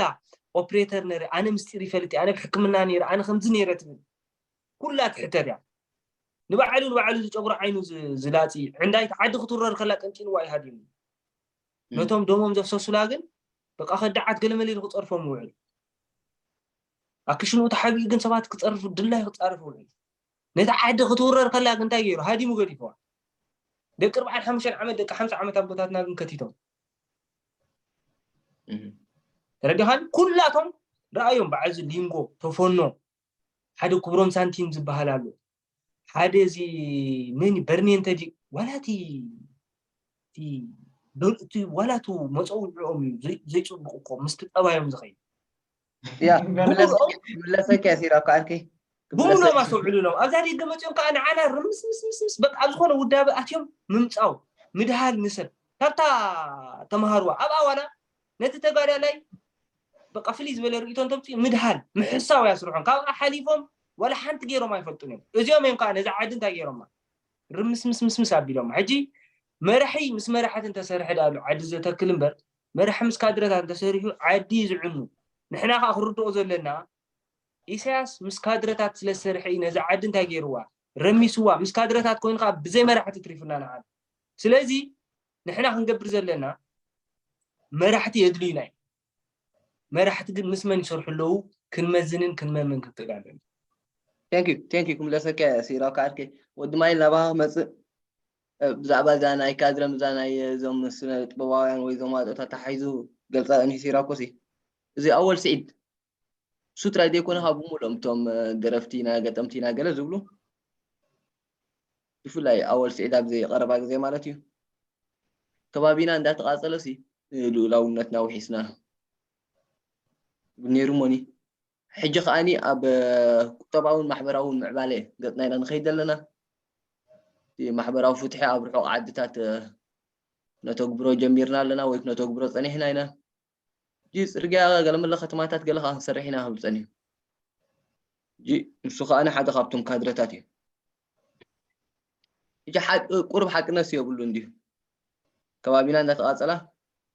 ኦፕሬተር ነረ ኣነ ምስጢር ይፈልጥ ኣነ ብሕክምና ነረ ኣነ ከምዚ ነረ ትብል ኩላ ትሕተት እያ ንባዕሉ ንባዕሉ ዝጨጉሮ ዓይኑ ዝላፂ ዕንዳይቲ ዓዲ ክትውረር ከላ ቀንጢንዋ እዩ ሃዲሙ ነቶም ደሞም ዘፍሰሱላ ግን በቃ ከዳዓት ገለመለ ኢሉ ክፀርፎም ውዕል ኣክሽንኡ ተሓቢኡ ግን ሰባት ክፀርፉ ድላይ ክፃርፍ ውዕል ነታ ዓዲ ክትውረር ከላ ግን እንታይ ገይሩ? ሃዲሙ ገዲፍዋ። ደቂ ኣርብዓን ሓሙሽተን ዓመት ደቂ ሓምሳ ዓመት ኣቦታትና ግን ከቲቶም ተረዲኻን ኩላቶም ረኣዮም በዓል እዚ ሊንጎ ተፈኖ ሓደ ክብሮም ሳንቲም ዝበሃል ኣሎ ሓደ እዚ መን በርኔ እንተዲ ዋላቲ እቲ ዋላቱ መፀውዕኦም እዩ ዘይፅቡቅ እኮ ምስቲ ጠባዮም ዝኸይድ ያ ክምለሰኪ እያ ሲራ እኮ ዓርኪ ብሙሎም ኣስተውዕሉሎም ኣብዛ ደገ መፅኦም ከዓ ንዓና ርምስምስምስምስ በቃ ኣብ ዝኾነ ውዳበ ኣትዮም ምምፃው ምድሃል ንሰብ ካብታ ተምሃርዋ ኣብኣ ዋላ ነቲ ተጋዳላይ በቃ ፍልይ ዝበለ ርእቶ እንተምፅኡ ምድሃል ምሕሳው እያ ስርሖም ካብኣ ሓሊፎም ዋላ ሓንቲ ገይሮም ኣይፈልጡን እዮም እዚኦም እዮም ከዓ ነዛ ዓዲ እንታይ ገይሮማ ርምስምስምስምስ ኣቢሎማ ሕጂ መራሒ ምስ መራሕቲ እንተሰርሐ ዳኣሉ ዓዲ ዘተክል እምበር መራሒ ምስ ካድረታት እንተሰሪሑ ዓዲ እዩ ዝዕኑ። ንሕና ከኣ ክንርድኦ ዘለና ኢሳያስ ምስ ካድረታት ስለ ዝሰርሐ እዩ ነዛ ዓዲ እንታይ ጌርዋ ረሚስዋ ምስ ካድረታት ኮይኑ ከኣ ብዘይ መራሕቲ ትሪፉና ንዓና። ስለዚ ንሕና ክንገብር ዘለና መራሕቲ የድልዩና እዩ። መራሕቲ ግን ምስ መን ይሰርሑ ኣለዉ ክንመዝንን ክንመምን ክንክእል ኣለና። ቴንኪዩ ቴንኪዩ ክምለሰካ እየ ሲራው ካዓርከይ ወዲ ማይ ናባኻ ክመጽእ ብዛዕባ እዛ ናይ ካድረ ምዛ ናይ እዞም ስነጥበባውያን ወይ እዞም ኣጦት ኣተሓሒዙ ገልጻ እኒ ሲራኮሲ እዚ ኣወል ስዒድ ንሱ ጥራይ ዘይኮነ ካብ ሙሉኦም እቶም ደረፍቲና ገጠምቲና ገለ ዝብሉ ብፍላይ ኣወል ስዒድ ኣብዚ ቀረባ ግዜ ማለት እዩ ከባቢና እንዳተቓጸለሲ ልኡላውነትና ውሒስና ዝብል ነይሩ እሞኒ ሕጂ ከኣ ኣብ ቁጠባውን ማሕበራውን ምዕባለ ገጽና ኢና ንኸይድ ዘለና። እቲ ማሕበራዊ ፍትሒ ኣብ ርሑቕ ዓድታት ክነተግብሮ ጀሚርና ኣለና ወይ ክነተግብሮ ጸኒሕና ኢና። ሕጂ ጽርግያ ገለመለ ከተማታት ገለ ከኣ ክንሰርሕ ኢና ክብል ጸኒሑ። ሕጂ ንሱ ከኣ ሓደ ካብቶም ካድረታት እዩ። እጂ ቁሩብ ሓቅነትሲ የብሉን ድዩ? ከባቢና እንዳተቓጸላ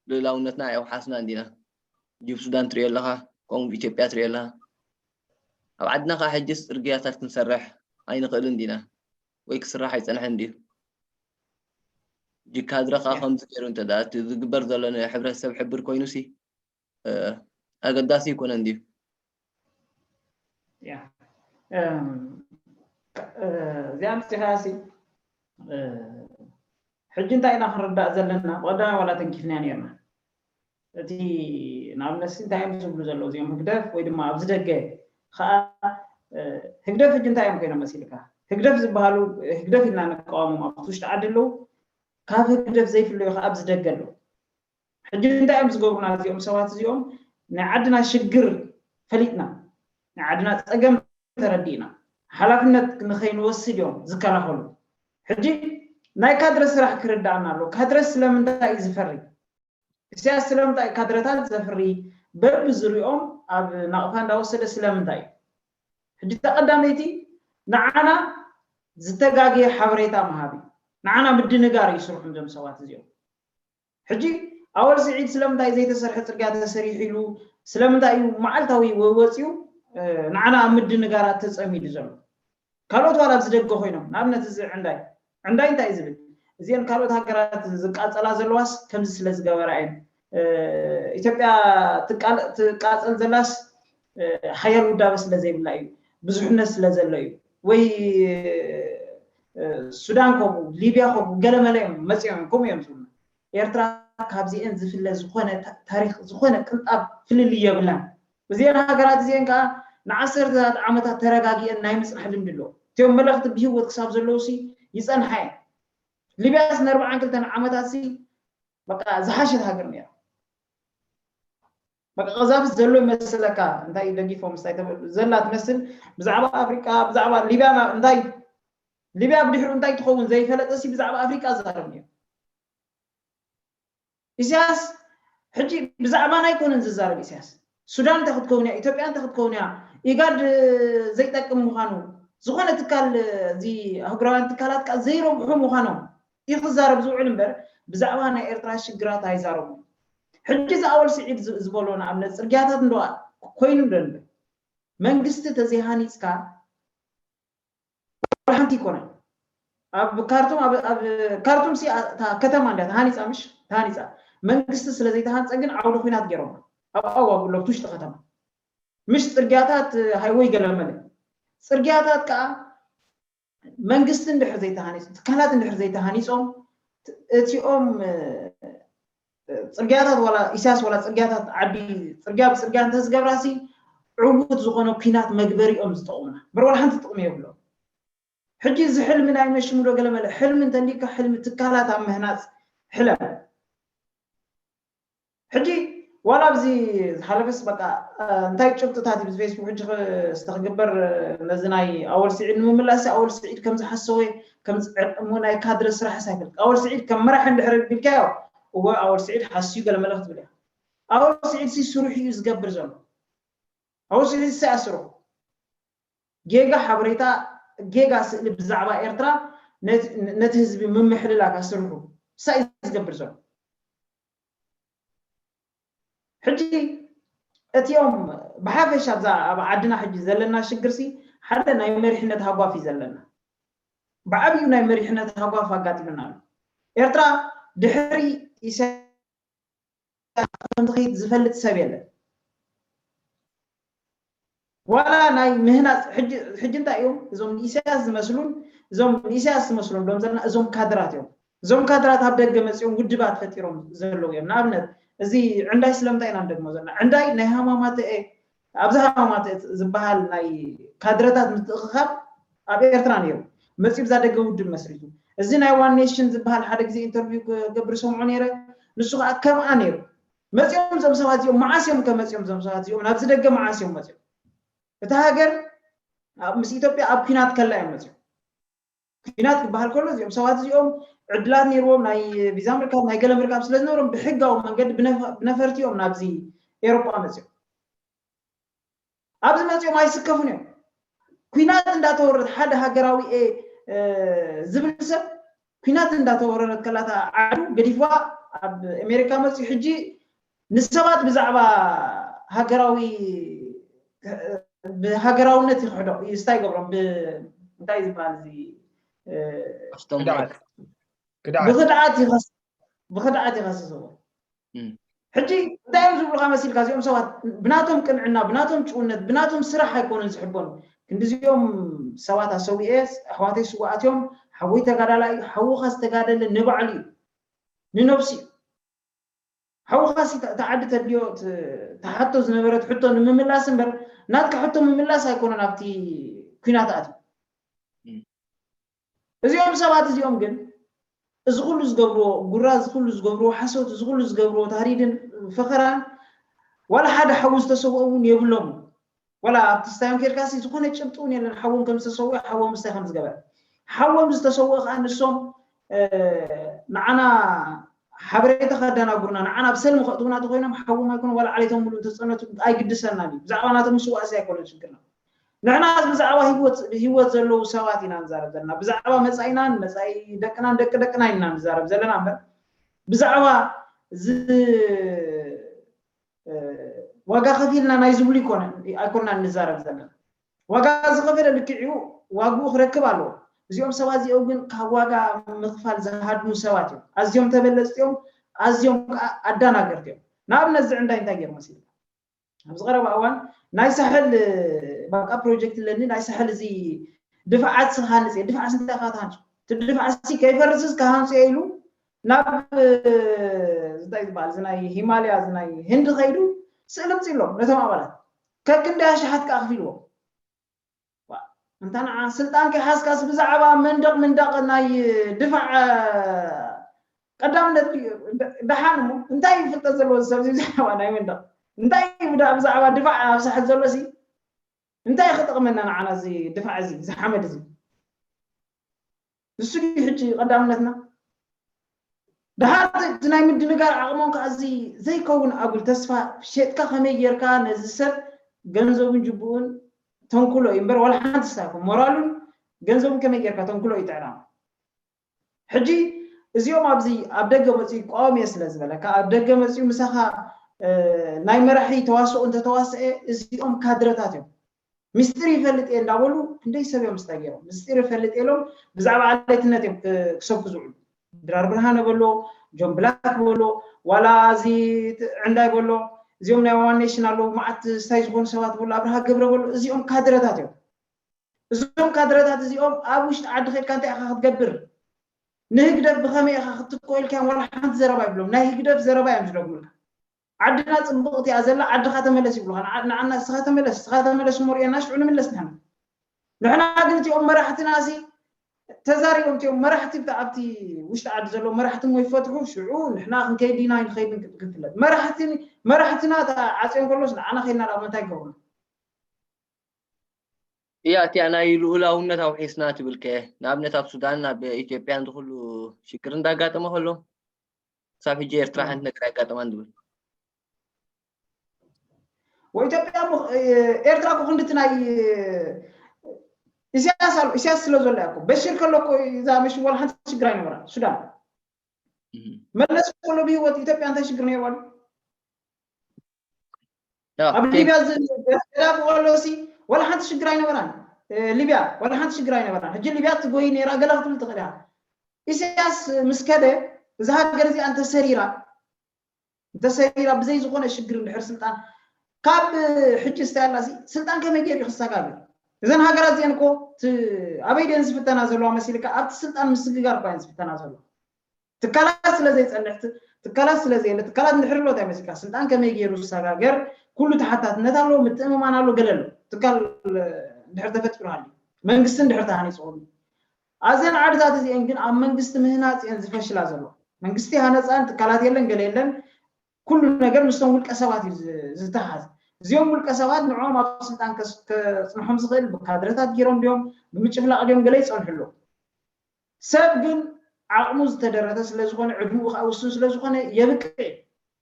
ልኡላውነትና ኣየውሓስናን ዲና? ጁብ ሱዳን ትርእዮ ኣለኻ፣ ከምኡ ብ ኢትዮጵያ ትርእዮ ኣለኻ። ኣብ ዓድና ከኣ ሕጂስ ጽርግያታት ክንሰርሕ ኣይንኽእልን ዲና? ወይ ክስራሕ ኣይጸንሐን ድዩ? እጂ ካድረ ከኣ ከምዚ ጌሩ እንተደኣ እቲ ዝግበር ዘሎ ንሕብረተሰብ ሕብር ኮይኑሲ ኣገዳሲ ኣይኮነን ድዩ? እዚኣ ኣምፂኻያሲ ሕጂ እንታይ ኢና ክንርዳእ ዘለና ቀዳማይ ዋላ ተንኪፍናዮ ነርና እቲ ንኣብነት እንታይ እዮም ዝብሉ ዘለዉ እዚኦም ህግደፍ ወይ ድማ ኣብዚ ደገ ከዓ ህግደፍ ሕጂ እንታይ እዮም ኮይኖም መሲልካ ህግደፍ ዝበሃሉ ህግደፍ ኢልና ንቃወሞም ኣብቲ ውሽጢ ዓዲ ኣለዉ ካብ ህግደፍ ዘይፍለዩ ከዓ ኣብዚ ደገ ኣለዉ ሕጂ እንታይ እዮም ዝገብሩና እዚኦም ሰባት እዚኦም ናይ ዓድና ሽግር ፈሊጥና ናይ ዓድና ጸገም ተረዲእና ሓላፍነት ንኸይንወስድ እዮም ዝከላኸሉ ሕጂ ናይ ካድረ ስራሕ ክርዳኣና ኣሎ ካድረ ስለምንታይ እዩ ዝፈሪ ኢሰያስ ስለምንታይ ካድረታት ዘፍሪ በቢ ዝሪኦም ኣብ ናቕፋ እንዳወሰደ ስለምንታይ እዩ ሕጂ እታ ቀዳመይቲ ንዓና ዝተጋግየ ሓበሬታ ምሃብ እዩ ንዓና ምድንጋር እዩ ስርሑም እዞም ሰባት እዚኦም ሕጂ ኣወል ስዒድ ስለምንታይ ዘይተሰርሐ ጽርግያ ተሰሪሑ ኢሉ ስለምንታይ እዩ መዓልታዊ ወይ ወጺኡ ንዓና ኣብ ምድንጋራት ተጸሚዱ ዘሎ ካልኦት ዋላ ኣብዚ ደገ ኮይኖም ንኣብነት እዚ ዕንዳይ ዕንዳይ እንታይ እዩ ዝብል እዚአን ካልኦት ሃገራት ዝቃጸላ ዘለዋስ ከምዚ ስለ ዝገበራ እየን ኢትዮጵያ ትቃጸል ዘላስ ሓያል ውዳበ ስለ ዘይብላ እዩ ብዙሕነት ስለ ዘሎ እዩ ወይ ሱዳን ከምኡ ሊብያ ከምኡ ገለመለ እዮም መፂኦም እዮም ከምኡ እዮም ዝብሉ ኤርትራ ካብዚኤን ዝፍለ ዝኾነ ታሪክ ዝኾነ ቅንጣብ ፍልልይ የብላን እዚኤን ሃገራት እዚኤን ከዓ ንዓሰርተታት ዓመታት ተረጋጊኤን ናይ ምፅናሕ ልምዲ ኣለዎ እትዮም መለኽቲ ብሂወት ክሳብ ዘለዉ ሲ ይፀንሓ እየን ሊብያስ ንኣርብዓን ክልተን ዓመታት ሲ በቃ ዝሓሸት ሃገር ነይራ በቃ ቀዛፍዝ ዘሎ ይመስለካ እንታይ ደጊፎም ስታይ ተበሉ ዘላ ትመስል ብዛዕባ ኣፍሪቃ ብዛዕባ ሊብያ እንታይ ሊብያ ብድሕሩ እንታይ ትኸውን ዘይፈለጠ ሲ ብዛዕባ ኣፍሪቃ ዛረብ ነይሩ ኢሳያስ ሕጂ ብዛዕባና ኣይኮነን ዝዛረብ ኢሳያስ ሱዳን እንታይ ክትከውን እያ ኢትዮጵያ እንታይ ክትከውን እያ ኢጋድ ዘይጠቅም ምዃኑ ዝኾነ ትካል እዚ ኣህጉራውያን ትካላት ከዓ ዘይረብሑ ምዃኖም እዩ ክዛረብ ዝውዕል እምበር ብዛዕባ ናይ ኤርትራ ሽግራት ኣይዛረቡን ሕጂ እዚ ኣወል ስዒድ ዝበሎ ንኣብነት ጽርግያታት እንዶ ኮይኑ ዶ እንበር መንግስቲ ተዘይ ሃኒጽካ ዋላ ሓንቲ ኣይኮነን ኣብ ካርቱም ኣብ ካርቱም ሲ እታ ከተማ እንዳ ተሃኒጻ ምሽ ተሃኒጻ መንግስቲ ስለ ዘይተሃንጸ ግን ዓውደ ኩናት ገይሮማ ኣብ ኣዋብ ሎብቲ ውሽጢ ከተማ ምሽ ጽርግያታት ሃይወይ ገለመለ ጽርግያታት ከዓ መንግስቲ እንድሕር ዘይተሃኒፁ ትካላት እንድሕር ዘይተሃኒፆም እቲኦም ፅርግያታት ዋላ ኢሳያስ ዋላ ፅርግያታት ዓዲ ፅርግያ ብፅርግያ እንተዝገብራሲ ዕውት ዝኾነ ኩናት መግበሪኦም ዝጠቕሙና በር ዋላ ሓንቲ ጥቕሚ የብሎም ሕጂ እዚ ሕልሚ ናይ መሽሙዶ ገለመለ ሕልሚ እንተሊካ ሕልሚ ትካላት ኣብ ምህናፅ ሕለም ሕጂ ዋላ ኣብዚ ዝሓለፈስ በቃ እንታይ ጭብጥታት እዩ ብፌስቡክ ሕጂ ስተ ክግበር ነዚ ናይ ኣወል ስዒድ ንምምላስ ኣወል ስዒድ ከም ዝሓሰወ ከም ዝዕርቅሞ ናይ ካድረ ስራሕስ ኣይፈልጥ ኣወል ስዒድ ከም መራሒ እንድሕር ቢልካዮ እወ ኣወል ስዒድ ሓስዩ ገለ መለ ክትብል እያ ኣወል ስዒድ ሲ ስርሑ እዩ ዝገብር ዘሎ ኣወል ስዒድ ሲ ኣስርሑ ጌጋ ሓበሬታ ጌጋ ስእሊ ብዛዕባ ኤርትራ ነቲ ህዝቢ ምምሕልላፍ ኣስርሑ ሳይ እዩ ዝገብር ዘሎ ሕጂ እቲኦም ብሓፈሻ ኣብዛ ኣብ ዓድና ሕጂ ዘለና ሽግርሲ ሓደ ናይ መሪሕነት ሃጓፍ እዩ ዘለና ብዓብዩ ናይ መሪሕነት ሃጓፍ ኣጋጢሙና ኣሎ ኤርትራ ድሕሪ ኢሳያስ ኢትዮጵያ ከም ዝኸይድ ዝፈልጥ ሰብ የለን። ዋላ ናይ ምህናጽ ሕጂ ሕጂ እንታይ እዮም እዞም ንኢሳያስ ዝመስሉን እዞም ንኢሳያስ ዝመስሉ ንብሎም ዘለና እዞም ካድራት እዮም። እዞም ካድራት ኣብ ደገ መጺኦም ውድባት ፈጢሮም ዘለዉ እዮም። ንኣብነት እዚ ዕንዳይ ስለምንታይ ኢና ንደግሞ ዘለና? ዕንዳይ ናይ ሃማማተኤ ኣብዚ ሃማማት ዝበሃል ናይ ካድረታት ምትእኽኻብ ኣብ ኤርትራ ነይሩ መጺኡ ብዛ ደገ ውድብ መስሪቱ እዚ ናይ ዋን ኔሽን ዝበሃል ሓደ ግዜ ኢንተርቪው ክገብር ሰምዖ ነይረ ንሱ ከዓ ከምኣ ነይሩ መጺኦም እዞም ሰባት እዚኦም መዓስ እዮም ከመጺኦም እዞም ሰባት እዚኦም ናብዚ ደገ መዓስ እዮም መጺኦም እታ ሃገር ምስ ኢትዮጵያ ኣብ ኩናት ከላ እዮም መጺኦም ኩናት ክበሃል ከሎ እዚኦም ሰባት እዚኦም ዕድላት ነይርዎም ናይ ቪዛ ምርካብ ናይ ገለ ምርካብ ስለ ዝነበሮም ብሕጋዊ መንገዲ ብነፈርቲ እዮም ናብዚ ኤሮጳ መፅኦም ኣብዚ መፅኦም ኣይስከፉን እዮም ኩናት እንዳተወረረት ሓደ ሃገራዊ እየ ዝብል ሰብ ኩናት እንዳተወረረት ከላታ ዓዱ ገዲፍዋ ኣብ ኣሜሪካ መፅኡ ሕጂ ንሰባት ብዛዕባ ሃገራዊ ብሃገራውነት ይኽሕዶም እዩ ስታይ ይገብሮም እንታይ ዝበሃል እዚ ብክድዓት ይኸስ ብክድዓት ይኸስስዎ ሕጂ እንታይ እዮም ዝብሉካ መሲልካ እዚኦም ሰባት ብናቶም ቅንዕና ብናቶም ጭውነት ብናቶም ስራሕ ኣይኮኑን ዝሕበኑ ክንዲዚኦም ሰባት ኣሰዊኤ ኣሕዋተይ ስዋኣት እዮም ሓወይ ተጋዳላይ ሓውኻ ዝተጋደለ ንባዕሉ እዩ ንነብሱ እዩ ሓውኻሲ እታ ዓዲ ተድልዮ ትሓቶ ዝነበረት ሕቶ ንምምላስ እምበር ናትካ ሕቶ ምምላስ ኣይኮነን ኣብቲ ኲናት ኣትዩ። እዚኦም ሰባት እዚኦም ግን እዚ ኩሉ ዝገብርዎ ጉራ እዚ ኩሉ ዝገብርዎ ሓሶት እዚ ኩሉ ዝገብርዎ ታህዲድን ፈኸራን ዋላ ሓደ ሓዊ ዝተሰውኦ እውን የብሎምን። ወላ ኣብቲ ስታዮን ኬድካሲ ዝኾነ ጭብጢ ውን የለን ሓዎም ከም ዝተሰወኣ ሓዎም ስታይ ከም ዝገበረ ሓዎም ዝተሰወኣ ከኣ ንሶም ንዓና ሓበሬታ ከዳናጉርና ንዓና ኣብ ሰልሚ ከእትውና ተኮይኖም ሓዎም ኣይኮነ ወላ ዓሌቶም ሙሉ እንተጸነቱ ኣይግድሰናን እዩ ብዛዕባ ናቶም ምስዋእሲ ኣይኮነን ሽግርና ንሕናስ ብዛዕባ ህይወት ዘለዉ ሰባት ኢና ንዛረብ ዘለና ብዛዕባ መጻኢናን መጻኢ ደቅናን ደቂ ደቅና ኢና ንዛረብ ዘለና እምበር ብዛዕባ ዋጋ ከፊልና ናይ ዝብሉ ይኮነን ኣይኮናን ንዛረብ ዘለና ዋጋ ዝኸፈለ ልክዕኡ ዋግኡ ክረክብ ኣለዎ እዚኦም ሰባት እዚኦም ግን ካብ ዋጋ ምኽፋል ዝሃድሙ ሰባት እዮም ኣዝዮም ተበለፅቲ እዮም ኣዝዮም ከዓ ኣዳናገርቲ እዮም ንኣብነት ዝዕንዳይ እንታይ ገይሩ መሲሉ ኣብዚ ቀረባ እዋን ናይ ሳሕል ባቃ ፕሮጀክት ኣለኒ ናይ ሳሕል እዚ ድፋዓት ስኻንፅ ድፋዓት እንታይ ካትሃንፁ እቲ ድፋዓት ሲ ከይፈርስስ ካሃንፁ ኢሉ ናብ እንታይ ዝበሃል እዚ ናይ ሂማልያ እዚ ናይ ህንዲ ከይዱ ስእሊ ኣምጺእሎም ነቶም ኣባላት ከክንደይ ኣሽሓት ከኣ ኣኽፊልዎም እንታ ንዓ ስልጣን ከይሓዝካስ ብዛዕባ መንደቕ ምንዳቕ ናይ ድፋዕ ቀዳምነት ደሓን እሞ እንታይ እዩ ፍልጠት ዘለዎ ዝሰብ ብዛዕባ ናይ መንደቕ እንታይ እዩ ብዛዕባ ድፋዕ ኣብ ሳሕል ዘሎ ሲ እንታይ ክጠቕመና ንዓና እዚ ድፋዕ እዚ እዚ ሓመድ እዚ ንሱ ድዩ ሕጂ ቀዳምነትና? ደሓር እቲ ናይ ምድንጋር ዓቕሞም ከኣ እዚ ዘይከውን ኣጉል ተስፋ ሼጥካ ከመይ ጌርካ ነዚ ሰብ ገንዘቡን ጅብኡን ተንኩሎ እዩ እምበር ዋላ ሓንቲ ስታይኮ ሞራሉን ገንዘቡን ከመይ ጌርካ ተንኩሎ እዩ ጥዕናኡ። ሕጂ እዚኦም ኣብዚ ኣብ ደገ መጽኡ ይቋወም እየ ስለ ዝበለካ ኣብ ደገ መጽኡ ምሳኻ ናይ መራሒ ተዋስኦ እንተተዋስኤ እዚኦም ካድረታት እዮም። ምስጢር ይፈልጥ እየ እንዳበሉ ክንደይ ሰብ እዮም ምስታይ ገይሮም ምስጢር ይፈልጥ እየ ኢሎም ብዛዕባ ኣለይትነት እዮም ክሰብኩ ዝውዕሉ ድራር ብርሃነ በሎ ጆን ብላክ በሎ ዋላ እዚ ዕንዳይ በሎ እዚኦም ናይ ዋን ኔሽን ኣለዉ መዓት ስታይ ዝኾኑ ሰባት በሎ ኣብርሃ ገብረ በሎ እዚኦም ካድረታት እዮም እዞም ካድረታት እዚኦም ኣብ ውሽጢ ዓዲ ከድካ እንታይ ኢኻ ክትገብር ንህግደፍ ብኸመይ ኢኻ ክትትኮ ኢልካዮም ዋላ ሓንቲ ዘረባ ይብሎም ናይ ህግደፍ ዘረባ እዮም ዝደግሙልካ ዓድና ጽብቕቲ እያ ዘላ ዓድኻ ተመለስ ይብሉኻ ንዓና ንስኻ ተመለስ ንስኻ ተመለስ እሞ ርኤና ሽዑ ንምለስ ንሕና ንሕና ግን እቲኦም መራሕትናሲ ተዛሪቦም እቲኦም መራሕቲ ኣብቲ ውሽጢ ዓዲ ዘለዉ መራሕቲ እሞ ይፈትሑ ሽዑ ንሕና ክንከይድ ኢና ይንኸይድን ክትፍለጥ መራሕቲ መራሕትና ዓጽዮን ከሎስ ንዓና ከይድና ኣብ ምንታይ ይገብሩና እያ እቲኣ ናይ ልኡላውነት ኣውሒስና ትብል ከ ንኣብነት ኣብ ሱዳን ኣብ ኢትዮጵያን ዝኩሉ ሽግር እንዳጋጠመ ከሎ ክሳብ ሕጂ ኤርትራ ሓንቲ ነገር ኣይጋጠማን ዝብል ወኢትዮጵያ እሞ ኤርትራ እኮ ክንድቲ ናይ ኢሳያስ ኣሎ ኢሳያስ ስለ ዘሎ እያ እኮ በሽር ከሎ እኮ እዛ መሽ ዋላ ሓንቲ ሽግር ኣይነበራ ሱዳን መለስ ከሎ ብሂወት ኢትዮጵያ እንታይ ሽግር ነይርዋ ኣብ ሊብያ ገዳፊ ከሎሲ ዋላ ሓንቲ ሽግር ኣይነበራን ሊብያ ዋላ ሓንቲ ሽግር ኣይነበራን ሕጂ ሊብያ ትጎይ ነራ ገለ ክትብል ትኽእል ኢኻ ኢሳያስ ምስ ከደ እዛ ሃገር እዚኣ እንተሰሪራ እንተሰሪራ ብዘይ ዝኾነ ሽግር እንድሕር ስልጣን ካብ ሕጂ ስታይ ኣላሲ ስልጣን ከመይ ገይሩ ክሰጋግ እዘን ሃገራት እዚአን እኮ ኣበይ ደን ዝፍተና ዘለዋ መሲልካ ኣብቲ ስልጣን ምስግጋር እኳ እየን ዝፍተና ዘለዋ ትካላት ስለ ዘይጸንሕት ትካላት ስለ ዘየለ ትካላት እንድሕር ኣሎ ታይ መሲልካ ስልጣን ከመይ ገይሩ ዝሰጋገር ኩሉ ተሓታትነት ኣለዎ ምትእምማን ኣሎ ገለ ኣሎ ትካል እንድሕር ተፈጢሩ ሃልዩ መንግስቲ እንድሕር ተሃኒጹ ከሉ ኣዘን ዓድታት እዚኤን ግን ኣብ መንግስቲ ምህናጽ እየን ዝፈሽላ ዘሎ መንግስቲ ሃነጻን ትካላት የለን ገለ የለን ኩሉ ነገር ምስቶም ውልቀ ሰባት እዩ ዝተሓዝ እዚኦም ውልቀ ሰባት ንዕኦም ኣብ ስልጣን ከጽንሖም ዝኽእል ብካድረታት ገይሮም ድዮም ብምጭፍላቕ ድዮም ገለ ይጸንሑ ኣለዉ ሰብ ግን ዓቕሙ ዝተደረተ ስለ ዝኾነ፣ ዕድመኡ ከኣ ውሱን ስለ ዝኾነ የብቅዕ እዩ።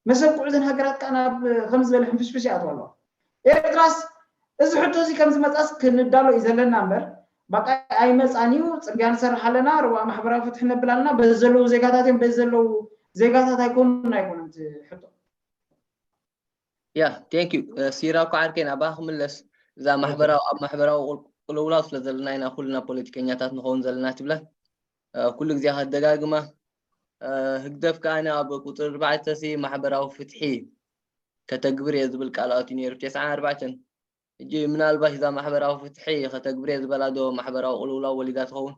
መሰብቅዑ እዘን ሃገራት ከኣ ናብ ከምዚ ዝበለ ሕንፍሽፍሽ ይኣትዋ ኣለዋ። ኤርትራስ እዚ ሕቶዚ ከም ዝመጽኣስ ክንዳሎ እዩ ዘለና እምበር፣ ባቃ ኣይመጽኣን እዩ፣ ጽርግያ ንሰርሕ ኣለና፣ ርዋእ ማሕበራዊ ፍትሒ ነብል ኣለና፣ በዚ ዘለዉ ዜጋታት እዮም፣ በዚ ዘለዉ ዜጋታት ኣይኮኑን ኣይኮነን እቲ ሕቶ። ያ ቴንክ ዩ ሲራ እኳ ዓርከይ ናባኻ ክምለስ እዛ ማሕበራዊ ኣብ ማሕበራዊ ቅልውላው ስለ ዘለና ኢና ኩልና ፖለቲከኛታት ንኸውን ዘለና ትብላ ኩሉ ግዜ ከደጋግማ ህግደፍ ከዓ ኣብ ቁፅሪ ኣርባዕተ ሲ ማሕበራዊ ፍትሒ ከተግብር እየ ዝብል ቃልኣት እዩ ነይሩ ቴስዓ ኣርባዕተን ሕጂ ምናልባሽ እዛ ማሕበራዊ ፍትሒ ከተግብር እየ ዝበላ ዶ ማሕበራዊ ቅልውላው ወሊዳ ትኸውን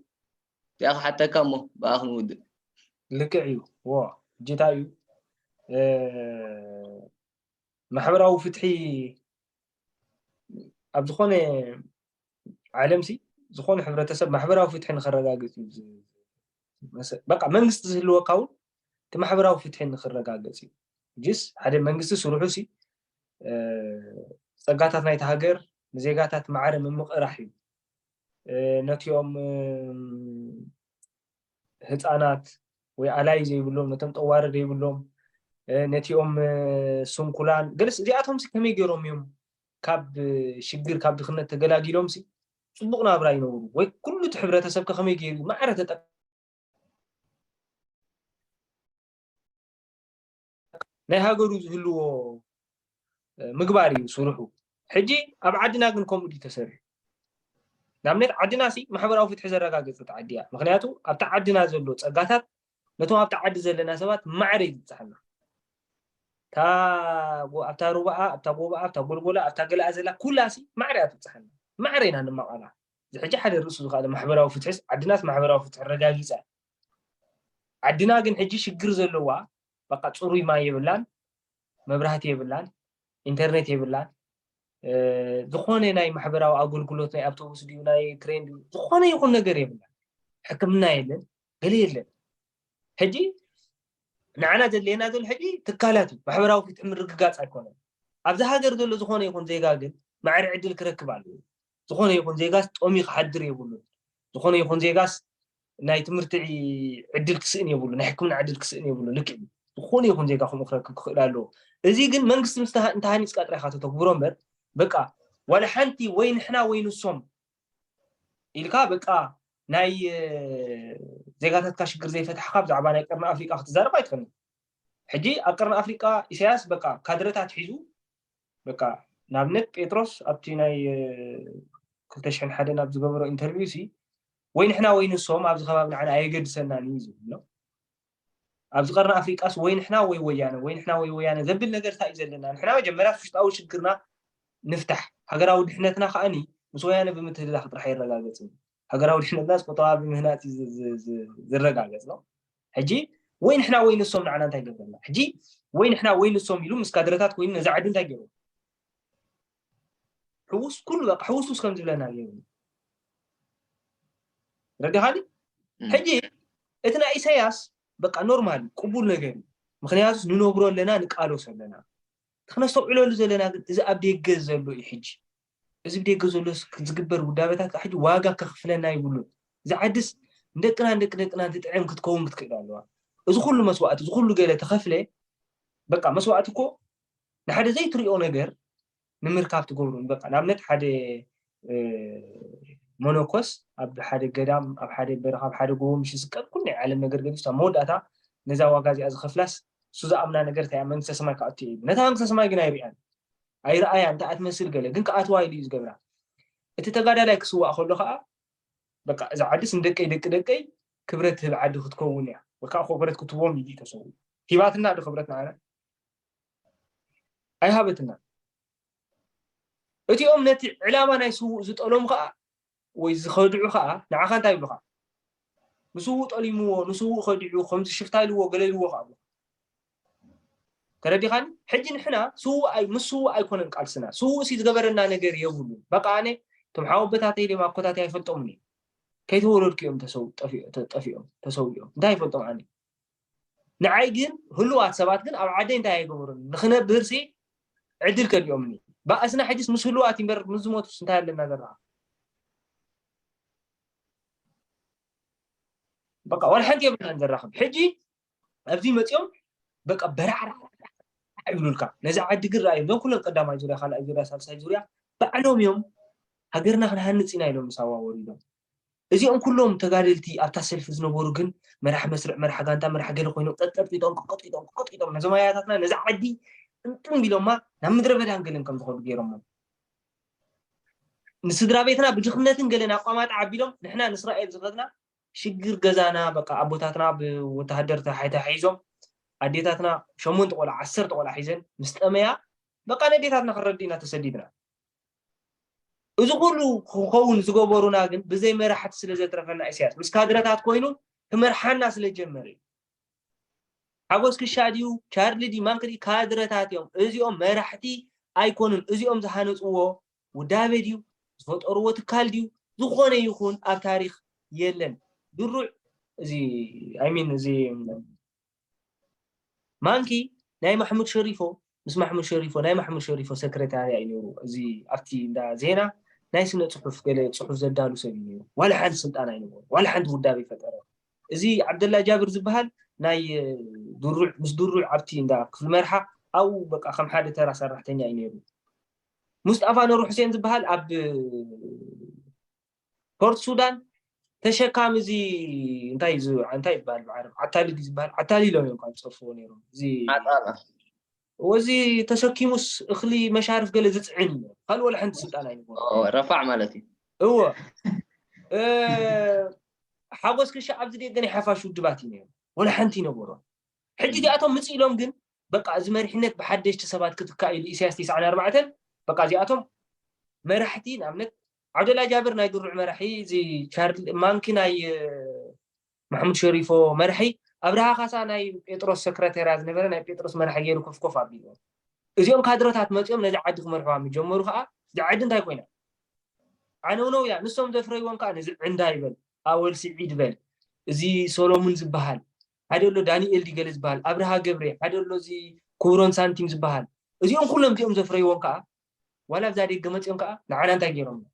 እቲኣ ክሓተካ እሞ ብኣ ክንውድእ። ልክዕ እዩ ዎ ጅታ እዩ ማሕበራዊ ፍትሒ ኣብ ዝኾነ ዓለም ሲ ዝኾነ ሕብረተሰብ ማሕበራዊ ፍትሒ ንክረጋገፅ እዩ በቃ መንግስቲ ዝህልወካ እውን እቲ ማሕበራዊ ፍትሒ ንክረጋገፅ እዩ ጅስ ሓደ መንግስቲ ስርሑ ሲ ፀጋታት ናይቲ ሃገር ንዜጋታት ማዕረ ምምቕራሕ እዩ ነቲኦም ህፃናት ወይ ኣላይ ዘይብሎም ነቶም ጠዋሪ ዘይብሎም ነቲኦም ስንኩላን ገለስ እዚኣቶም ከመይ ገይሮም እዮም ካብ ሽግር ካብ ድኽነት ተገላጊሎም ፅቡቅ ናብራ ይነብሩ ወይ ኩሉ እቲ ሕብረተሰብ ከመይ ገይሩ ማዕረ ተጠ ናይ ሃገሩ ዝህልዎ ምግባር እዩ ስርሑ ሕጂ ኣብ ዓድና ግን ከምኡ ድዩ ተሰሪሑ ንኣብነት ዓድና ሲ ማሕበራዊ ፍትሒ ዘረጋገፀት ዓዲ እያ ምክንያቱ ኣብቲ ዓድና ዘሎ ፀጋታት ነቶም ኣብቲ ዓዲ ዘለና ሰባት ማዕረ እዩ ዝብፅሓና ኣብታ ሩባኣ ኣብታ ጎባኣ ኣብታ ጎልጎላ ኣብታ ገላኣ ዘላ ኩላ ሲ ማዕረ እያ ትብፅሓና ማዕረ ኢና ንማቐላ እዚ ሕጂ ሓደ ርእሱ ዝካኣለ ማሕበራዊ ፍትሒስ ዓድናስ ማሕበራዊ ፍትሒ ረጋጊፃ ዓድና ግን ሕጂ ሽግር ዘለዋ በቃ ፅሩይ ማይ የብላን መብራህቲ የብላን ኢንተርኔት የብላን ዝኾነ ናይ ማሕበራዊ ኣገልግሎት ናይ ኣውቶቡስ ድዩ ናይ ትሬን ድዩ ዝኾነ ይኹን ነገር የብላን ሕክምና የለን ገለ የለን ሕጂ ንዓና ዘድልየና ዘሎ ሕጂ ትካላት እዩ ማሕበራዊ ፍትሒ ምርግጋፅ ኣይኮነን ኣብዚ ሃገር ዘሎ ዝኾነ ይኹን ዜጋ ግን ማዕሪ ዕድል ክረክብ ኣለዎ ዝኾነ ይኹን ዜጋስ ጠምዩ ክሓድር የብሉን፣ ዝኾነ ይኹን ዜጋስ ናይ ትምህርቲ ዕድል ክስእን የብሉን፣ ናይ ሕክምና ዕድል ክስእን የብሉን፣ ልክዕ እዩ ዝኾነ ይኹን ዜጋ ከምኡ ክረክብ ክኽእል ኣለዎ፣ እዚ ግን መንግስቲ ምስ እንተሃኒጽካ ጥራይ ኢኻ ተተግብሮ እምበር በቃ ዋላ ሓንቲ ወይ ንሕና ወይ ንሶም ኢልካ በቃ ናይ ዜጋታትካ ሽግር ዘይፈታሕካ ብዛዕባ ናይ ቀርኒ ኣፍሪቃ ክትዛረብ ኣይትኽእልን። ሕጂ ኣብ ቀርኒ ኣፍሪቃ ኢሳያስ በቃ ካድረታት ሒዙ በቃ ንኣብነት ጴጥሮስ ኣብቲ ናይ ክልተ ሽሕን ሓደን ኣብ ዝገበሮ ኢንተርቪው ሲ ወይ ንሕና ወይ ንሶም ኣብዚ ከባቢ ንዓና ኣየገድሰናን እዩ ዝብል ኣሎ ኣብዚ ቀርኒ ኣፍሪቃስ ወይ ንሕና ወይ ወያነ ወይ ንሕና ወይ ወያነ ዘብል ነገር እንታይ እዩ ዘለና ንሕና መጀመርያ ውሽጣዊ ሽግርና ንፍታሕ ሃገራዊ ድሕነትና ከዓኒ ምስ ወያነ ብምትህልላኽ ጥራሕ ይረጋገጽ ሃገራዊ ድሕነትናስ ቁጠባ ብምህናጽ እዩ ዝረጋገጽ ነው። ሕጂ ወይ ንሕና ወይ ንሶም ንዓና እንታይ ገበርና? ሕጂ ወይ ንሕና ወይ ንሶም ኢሉ ምስ ካድረታት ኮይኑ ነዚ ዓዲ እንታይ ገይሩ? ሕውስ ኩሉ በቃ ሕውስውስ ከም ዝብለና ገይሩ ረዲኻኒ ሕጂ እቲ ናይ ኢሳያስ በቃ ኖርማል ቅቡል ነገር እዩ ምክንያቱ ንነብሮ ኣለና ንቃለሶ ኣለና እቲ ክነስተውዕለሉ ዘለና ግን እዚ ኣብ ደገ ዘሎ እዩ ሕጂ እዚ ብደገ ዘሎ ዝግበር ውዳበታት ሕጂ ዋጋ ከኽፍለና ይብሉን። እዛ ዓድስ ንደቅናን ደቂ ደቅናን ትጥዕም ክትከውን ክትክእል ኣለዋ። እዚ ኩሉ መስዋእቲ እዚ ኩሉ ገለ ተኸፍለ በቃ መስዋእቲ እኮ ንሓደ ዘይትሪኦ ነገር ንምርካብ ትገብሩን በቃ ንኣብነት ሓደ መነኮስ ኣብ ሓደ ገዳም ኣብ ሓደ በረኻ ኣብ ሓደ ጎቦ ምሽ ዝስቀል ኩሉ ናይ ዓለም ነገር ገዲፍ ኣብ መወዳእታ ነዛ ዋጋ እዚኣ ዝኸፍላስ እሱ ዝኣምና ነገር እንታይ መንግስተ ሰማይ ክኣቱ እዩ ነታ መንግስተ ሰማይ ግን ኣይሪኣን ኣይርኣያ እንተኣ ትመስል ገለ ግን ክኣትዋ ኢሉ እዩ ዝገብራ እቲ ተጋዳላይ ክስዋእ ከሎ ከዓ በቃ እዛ ዓድስ ንደቀይ ደቂ ደቀይ ክብረት ትህብ ዓዲ ክትከውን እያ ወካዓ ኮበረት ክትቦም እዩ ተሰው ሂባትና ዶ ክብረት ንዓና ኣይሃበትና እቲኦም ነቲ ዕላማ ናይ ስውእ ዝጠሎም ከዓ ወይ ዝኸድዑ ከኣ ንዓኻ እንታይ ይብሉኻ? ንስዉእ ጠሊምዎ፣ ንስዉእ ከዲዑ፣ ከምዚ ሽፍታ ኢልዎ፣ ገለ ኢልዎ ከኣ ይብሉኻ። ተረዲኻኒ? ሕጂ ንሕና ስዉእ ኣይ ምስ ስዉእ ኣይኮነን ቃልስና፣ ስዉእሲ ዝገበረና ነገር የብሉን። በቓ ኣነ እቶም ሓወቦታተይ ድዮም ኣኮታተይ ኣይፈልጦምን እየ። ከይተወለድኩ እዮም ተሰው ጠፊ ጠፊኦም ተሰዊኦም። እንታይ ይፈልጦም ኣነ። ንዓይ ግን ህሉዋት ሰባት ግን ኣብ ዓደይ እንታይ ኣይገበሩን ንክነብርሲ ዕድል ከሊኦምኒ ባእስና ሕጅስ ምስ ህሉዋት እምበር ምስ ዝሞቱስ እንታይ ኣለና ዘለና በቃ ዋላ ሓንቲ የብልናን ዘራኽብ ሕጂ ኣብዚ መፅኦም በቃ በራዕራ ይብሉልካ ነዚ ዓዲ ግን ርኣዩ እዞም ኩሎም ቀዳማይ ዙርያ ካልኣይ ዙርያ ሳልሳይ ዙርያ ባዕሎም እዮም ሃገርና ክንሃንፅ ኢና ኢሎም ምስ ኣዋወሩ ኢሎም እዚኦም ኩሎም ተጋደልቲ ኣብታ ሰልፊ ዝነበሩ ግን መራሒ መስርዕ መራሒ ጋንታ መራሒ ገለ ኮይኖም ጠጠርጢጦም ቅጥቂጦም ቅጥቂጦም ነዞም ኣያታትና ነዛ ዓዲ ጥምጥም ቢሎማ ናብ ምድረ በዳን ገለን ከም ዝኸዱ ገይሮሞም ንስድራ ቤትና ብድኽነትን ገለን ኣቋማጣ ዓቢሎም ንሕና ንእስራኤል ዝኸድና ሽግር ገዛና በቃ ኣቦታትና ብወተሃደር ተሓሒዞም ኣዴታትና ሸሞንተ ቆልዓ ዓሰርተ ቆልዓ ሒዘን ምስ ጠመያ በቃ ነዴታትና ክንረዲ ኢና ተሰዲድና እዚ ኩሉ ክኸውን ዝገበሩና ግን ብዘይ መራሕቲ ስለ ዘትረፈና ኢሳያስ ምስ ካድረታት ኮይኑ ክመርሓና ስለ ዝጀመረ እዩ። ሓጎስ ክሻ ድዩ ቻርሊ ድዩ ማን ክድዩ ካድረታት እዮም እዚኦም መራሕቲ ኣይኮኑን እዚኦም ዝሃነፅዎ ውዳቤ ድዩ ዝፈጠርዎ ትካል ድዩ ዝኾነ ይኹን ኣብ ታሪክ የለን ድሩዕ እዚ ኣይሚን እዚ ማንኪ ናይ ማሕሙድ ሸሪፎ ምስ ማሕሙድ ሸሪፎ ናይ ማሕሙድ ሸሪፎ ሰክረታርያ እዩ ነይሩ እዚ ኣብቲ እንዳ ዜና ናይ ስነ ጽሑፍ ገለ ጽሑፍ ዘዳሉ ሰብ እዩ ነይሩ ዋላ ሓንቲ ስልጣን ኣይነበሮ ዋላ ሓንቲ ውዳብ ይፈጠረ እዚ ዓብደላ ጃብር ዝበሃል ናይ ድሩዕ ምስ ድሩዕ ኣብቲ እንዳ ክፍሊ መርሓ ኣብኡ በቃ ከም ሓደ ተራ ሰራሕተኛ እዩ ነይሩ ሙስጣፋ ኑር ሑሴን ዝበሃል ኣብ ፖርት ሱዳን ተሸካሚ እዚ እንታይ እዚ እንታይ ይባል ብዓረብ ዓታሊ ድዩ ዝበሃል ዓታሊ ኢሎም እዮም ካብ ዝፀርፍዎ ነይሮም እዚ ዓጣላ ወዚ ተሰኪሙስ እኽሊ መሻርፍ ገለ ዝፅዕን እዩ ካልእ ወላ ሓንቲ ስልጣን ኣይነበሮ ረፋዕ ማለት እዩ እዎ ሓጎስ ክሻ ኣብዚ ደገ ናይ ሓፋሽ ውድባት እዩ ነይሩ ወላ ሓንቲ ይነበሮ ሕጂ እዚኣቶም ምፅ ኢሎም ግን በቃ እዚ መሪሕነት ብሓደሽቲ ሰባት ክትካ ኢሉ ኢሳያስ 94 በቃ እዚኣቶም መራሕቲ ንኣብነት ዓብደላ ጃብር ናይ ድሩዕ መራሒ እዚ ቻርሊ ማንኪ ናይ ማሕሙድ ሸሪፎ መራሒ ኣብርሃ ካሳ ናይ ጴጥሮስ ሰክረቴርያ ዝነበረ ናይ ጴጥሮስ መራሒ ገይሩ ኮፍ ኮፍ ኣቢልዎ እዚኦም ካድረታት መፂኦም ነዚ ዓዲ ክመርሕዋ ምስ ጀመሩ ከዓ እዚ ዓዲ እንታይ ኮይና ዓነውነው እያ ንሶም ዘፍረይዎም ከዓ ነዚ ዕንዳ ይበል ኣወል ስዒድ በል እዚ ሶሎሙን ዝበሃል ሓደ ኣሎ ዳንኤል ዲገለ ዝበሃል ኣብርሃ ገብሬ ሓደ ኣሎ እዚ ኩብሮን ሳንቲም ዝበሃል እዚኦም ኩሎም እዚኦም ዘፍረይዎም ከዓ ዋላ ኣብዛ ደገ መፅኦም ከዓ ንዓና እንታይ ገይሮምና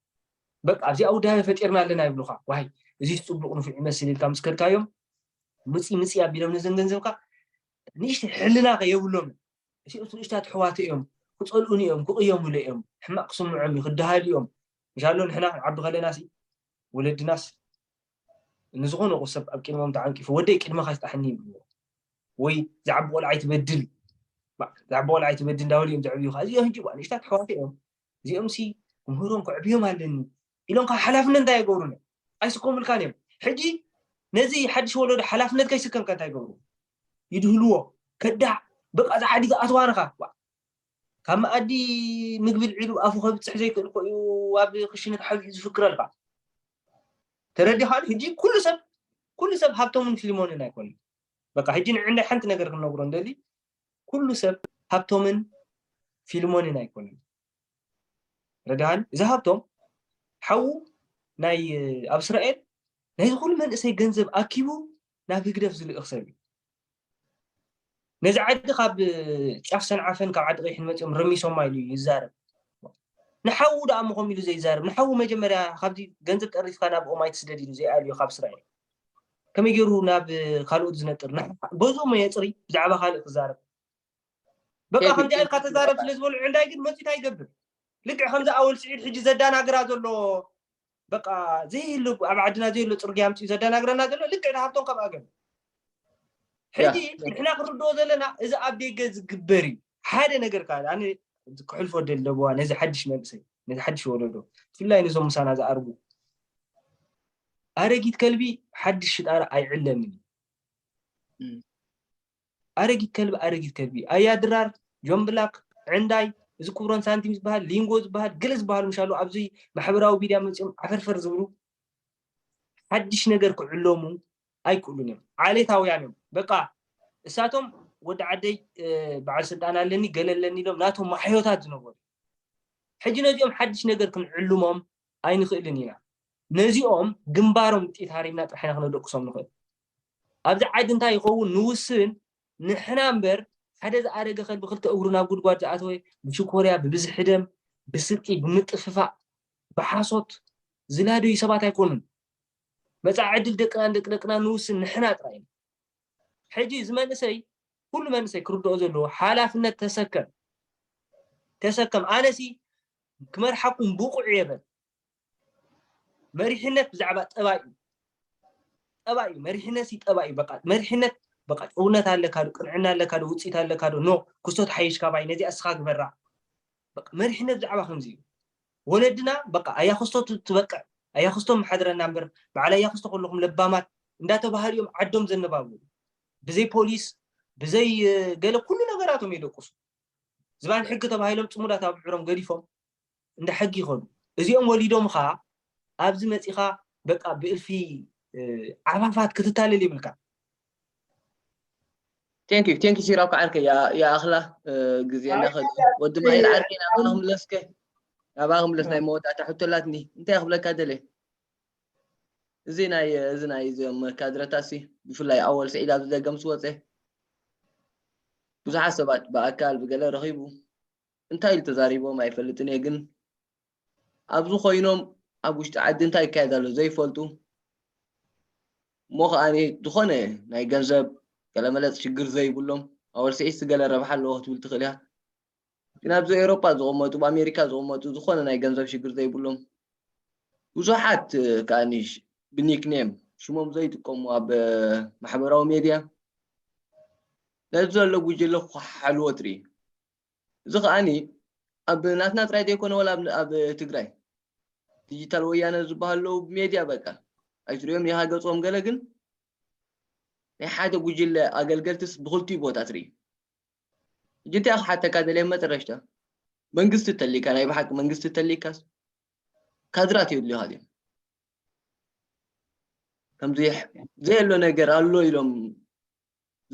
በቃ ኣብዚኣ ውዳበ ፈጢርና ኣለና ይብሉካ ዋይ እዚስ ፅቡቅ ንፉዕ ይመስል ኢልካ ምስ ከድካዮም ምፅኢ ምፅኢ ኣቢሎም ነዘን ገንዘብካ ንእሽተይ ሕልና ከ የብሎምን እቲኦት ንእሽታት ኣሕዋት እዮም ክፀልኡን እዮም ክቕየሙሉ እዮም ሕማቕ ክስምዖም እዩ ክደሃሉ እዮም እንሻሎ ንሕና ክንዓቢ ከለና ሲ ወለድናስ ንዝኾነ ሰብ ኣብ ቅድሞም ተዓንቂፉ ወደይ ቅድመኻ ይፍታሓኒ ይብልዎ ወይ ዝዓቢ ቆልዓ ኣይትበድል ዝዓቢ ቆልዓ ኣይትበድል እንዳበሉ እዮም ዘዕብዩኻ እዚኦም ሕጂ ንእሽታት ኣሕዋት እዮም እዚኦም ሲ ምህሮም ከዕብዮም ኣለኒ ኢሎም ካብ ሓላፍነት እንታይ ይገብሩን እዮም ኣይስከሙልካን እዮም ሕጂ ነዚ ሓድሽ ወለዶ ሓላፍነት ከይስከምካ እንታይ ይገብሩ ይድህልዎ ከዳዕ በቃ ዝዓዲ ዝኣትዋንኻ ካብ መኣዲ ምግቢ ልዒሉ ኣፉ ከብጽሕ ዘይክእል እኮ እዩ ኣብ ክሽነ ተሓቢኡ ዝፍክር ኣሎ ከዓ ተረዲኻ ሕጂ ኩሉ ሰብ ኩሉ ሰብ ሃብቶምን ፊልሞንን ኣይኮነን በቃ ሕጂ ንዕንዳይ ሓንቲ ነገር ክንነግሮ እንደሊ ኩሉ ሰብ ሃብቶምን ፊልሞንን ኣይኮነን ረዳሃን እዚ ሃብቶም ሓዉ ናይ ኣብ እስራኤል ናይዚ ኩሉ መንእሰይ ገንዘብ ኣኪቡ ናብ ህግደፍ ዝልእኽ ሰብ እዩ ነዚ ዓዲ ካብ ጫፍ ሰንዓፈን ካብ ዓዲ ቀይሕን መፅኦም ረሚሶማ ኢሉ ይዛረብ ንሓዉ ደኣ ምኾም ኢሉ ዘይዛረብ ንሓዉ መጀመርያ ካብዚ ገንዘብ ጠሪፍካ ናብ ኦማይ ትስደድ ኢሉ ዘይኣልዮ ካብ እስራኤል ከመይ ገይሩ ናብ ካልኦት ዝነጥር ገዝኡ መ የፅሪ ብዛዕባ ካልእ ክዛረብ በቃ ከምዚ ኢልካ ተዛረብ ስለ ዝበሉ ዕንዳይ ግን መፂት ኣይገብር ልክዕ ከምዚ ኣወል ስዒድ ሕጂ ዘዳናግራ ዘሎ በቃ ዘይህሉ ኣብ ዓድና ዘይህሉ ፅርግያ ኣምፅኡ ዘደናግረና ዘሎ ልክዕ ንሃብቶም ከምኣ ገሉ ሕጂ ንሕና ክንርድኦ ዘለና እዚ ኣብ ደገ ዝግበር እዩ ሓደ ነገር ከዓ ኣነ ክሕልፎ ደለዋ ነዚ ሓድሽ መንእሰይ ነዚ ሓድሽ ወለዶ ብፍላይ ነዞም ምሳና ዝኣርጉ ኣረጊት ከልቢ ሓድሽ ሽጣራ ኣይዕለምን እዩ ኣረጊት ከልቢ ኣረጊት ከልቢ ኣያ ድራር ጆን ብላክ ዕንዳይ እዚ ክብሮን ሳንቲም ዝበሃል ሊንጎ ዝበሃል ገለ ዝበሃሉ ምሻሉ ኣብዚ ማሕበራዊ ሚድያ መፂኦም ዓፈርፈር ዝብሉ ሓድሽ ነገር ክዕለሙ ኣይክእሉን እዮም ዓሌታውያን እዮም በቃ እሳቶም ወዲ ዓደይ በዓል ስልጣን ኣለኒ ገለ ኣለኒ ኢሎም ናቶም ማሕዮታት ዝነበሩ ሕጂ ነዚኦም ሓድሽ ነገር ክንዕልሞም ኣይንኽእልን ኢና ነዚኦም ግንባሮም ጢት ሃሪምና ጥራሕ ኢና ክነደቅሶም ንኽእል ኣብዚ ዓዲ እንታይ ይኸውን ንውስን ንሕና እምበር ሓደ ዝኣረገ ከልቢ ክልተ እግሩ ናብ ጉድጓድ ዝኣተወ ብሽኮርያ ብብዝሒ ደም ብስርቂ ብምጥፍፋእ ብሓሶት ዝላደዩ ሰባት ኣይኮኑን መጻኢ ዕድል ደቅናን ደቂ ደቅናን ንውስን ንሕና ጥራይ ኢና ሕጂ እዚ መንእሰይ ኩሉ መንእሰይ ክርድኦ ዘለዎ ሓላፍነት ተሰከም ተሰከም ኣነሲ ክመርሓኩም ብቑዕ እየ በል መሪሕነት ብዛዕባ ጠባይ እዩ ጠባይ እዩ መሪሕነት ሲ ጠባይ እዩ በቃ መሪሕነት በቃ ጭውነት ኣለካ ዶ ቅንዕና ኣለካ ዶ ውፅኢት ኣለካ ዶ ኖ ክስቶ ትሓይሽ ካባይ ነዚኣ እስኻ ግበራ በቃ መሪሕነት ብዛዕባ ከምዚ እዩ ወለድና በቃ ኣያ ክስቶ ትበቅዕ ኣያ ክስቶ መሓድረና እምበር በዓል ኣያ ክስቶ ከለኹም ለባማት እንዳተባሃሉ እዮም ዓዶም ዘነባቡ ብዘይ ፖሊስ ብዘይ ገለ ኩሉ ነገራቶም የደቁሱ ዝባን ሕጊ ተባሂሎም ፅሙዳት ኣብ ዕሮም ገዲፎም እንዳ ሕጊ ይኸዱ እዚኦም ወሊዶምኻ ኣብዚ መጺኻ በቃ ብእልፊ ዓፋፋት ክትታለል ይብልካ ቴንክ ዩ ቴንክ ዩ ሲራብ ከዓርከ ይኣኽላ ግዜና ከ ወዲ ማይል ዓርከ ናባኻ ክምለስከ ናባኻ ክምለስ ናይ መወዳእታ ሕቶ ኣላትኒ እንታይ ክብለካ ደለ እዚ ናይ እዚ ናይ እዚኦም ካድረታሲ ብፍላይ ኣወል ስዒድ ኣብዚ ደገም ዝወፀ ብዙሓት ሰባት ብኣካል ብገለ ረኺቡ እንታይ ኢሉ ተዛሪቦም ኣይፈልጥን እየ ግን ኣብዚ ኮይኖም ኣብ ውሽጢ ዓዲ እንታይ ይካየድ ኣሎ ዘይፈልጡ እሞ ከኣ ዝኾነ ናይ ገንዘብ ገለመለፅ ሽግር ዘይብሎም ኣወል ስዒድሲ ገለ ረብሓ ኣለዎ ክትብል ትኽእል እያ ግን ኣብዚ ኤውሮጳ ዝቕመጡ ብ ኣሜሪካ ዝቕመጡ ዝኾነ ናይ ገንዘብ ሽግር ዘይብሎም ብዙሓት ከኣ ብኒክኔም ሽሞም ዘይጥቀሙ ኣብ ማሕበራዊ ሜድያ ነዚ ዘሎ ጉጅለ ክኳሓሓልዎ ትርኢ እዚ ከኣኒ ኣብ ናትና ጥራይ ዘይኮነ ወላ ኣብ ኣብ ትግራይ ዲጂታል ወያነ ዝበሃሉ ኣለዉ ብሜድያ በቃ ኣይትርእዮም ዲኻ ገጾም ገለ ግን ናይ ሓደ ጉጅለ ኣገልገልትስ ብኽልቲኡ ቦታ ትርኢ ሕጂ እንታይ ክሓተካ ደልየ መጠረሽታ መንግስቲ ተሊካ ናይ ብሓቂ መንግስቲ ተሊካስ ካድራት የድልዩኻ ድዮም ከምዚ ዘየሎ ነገር ኣሎ ኢሎም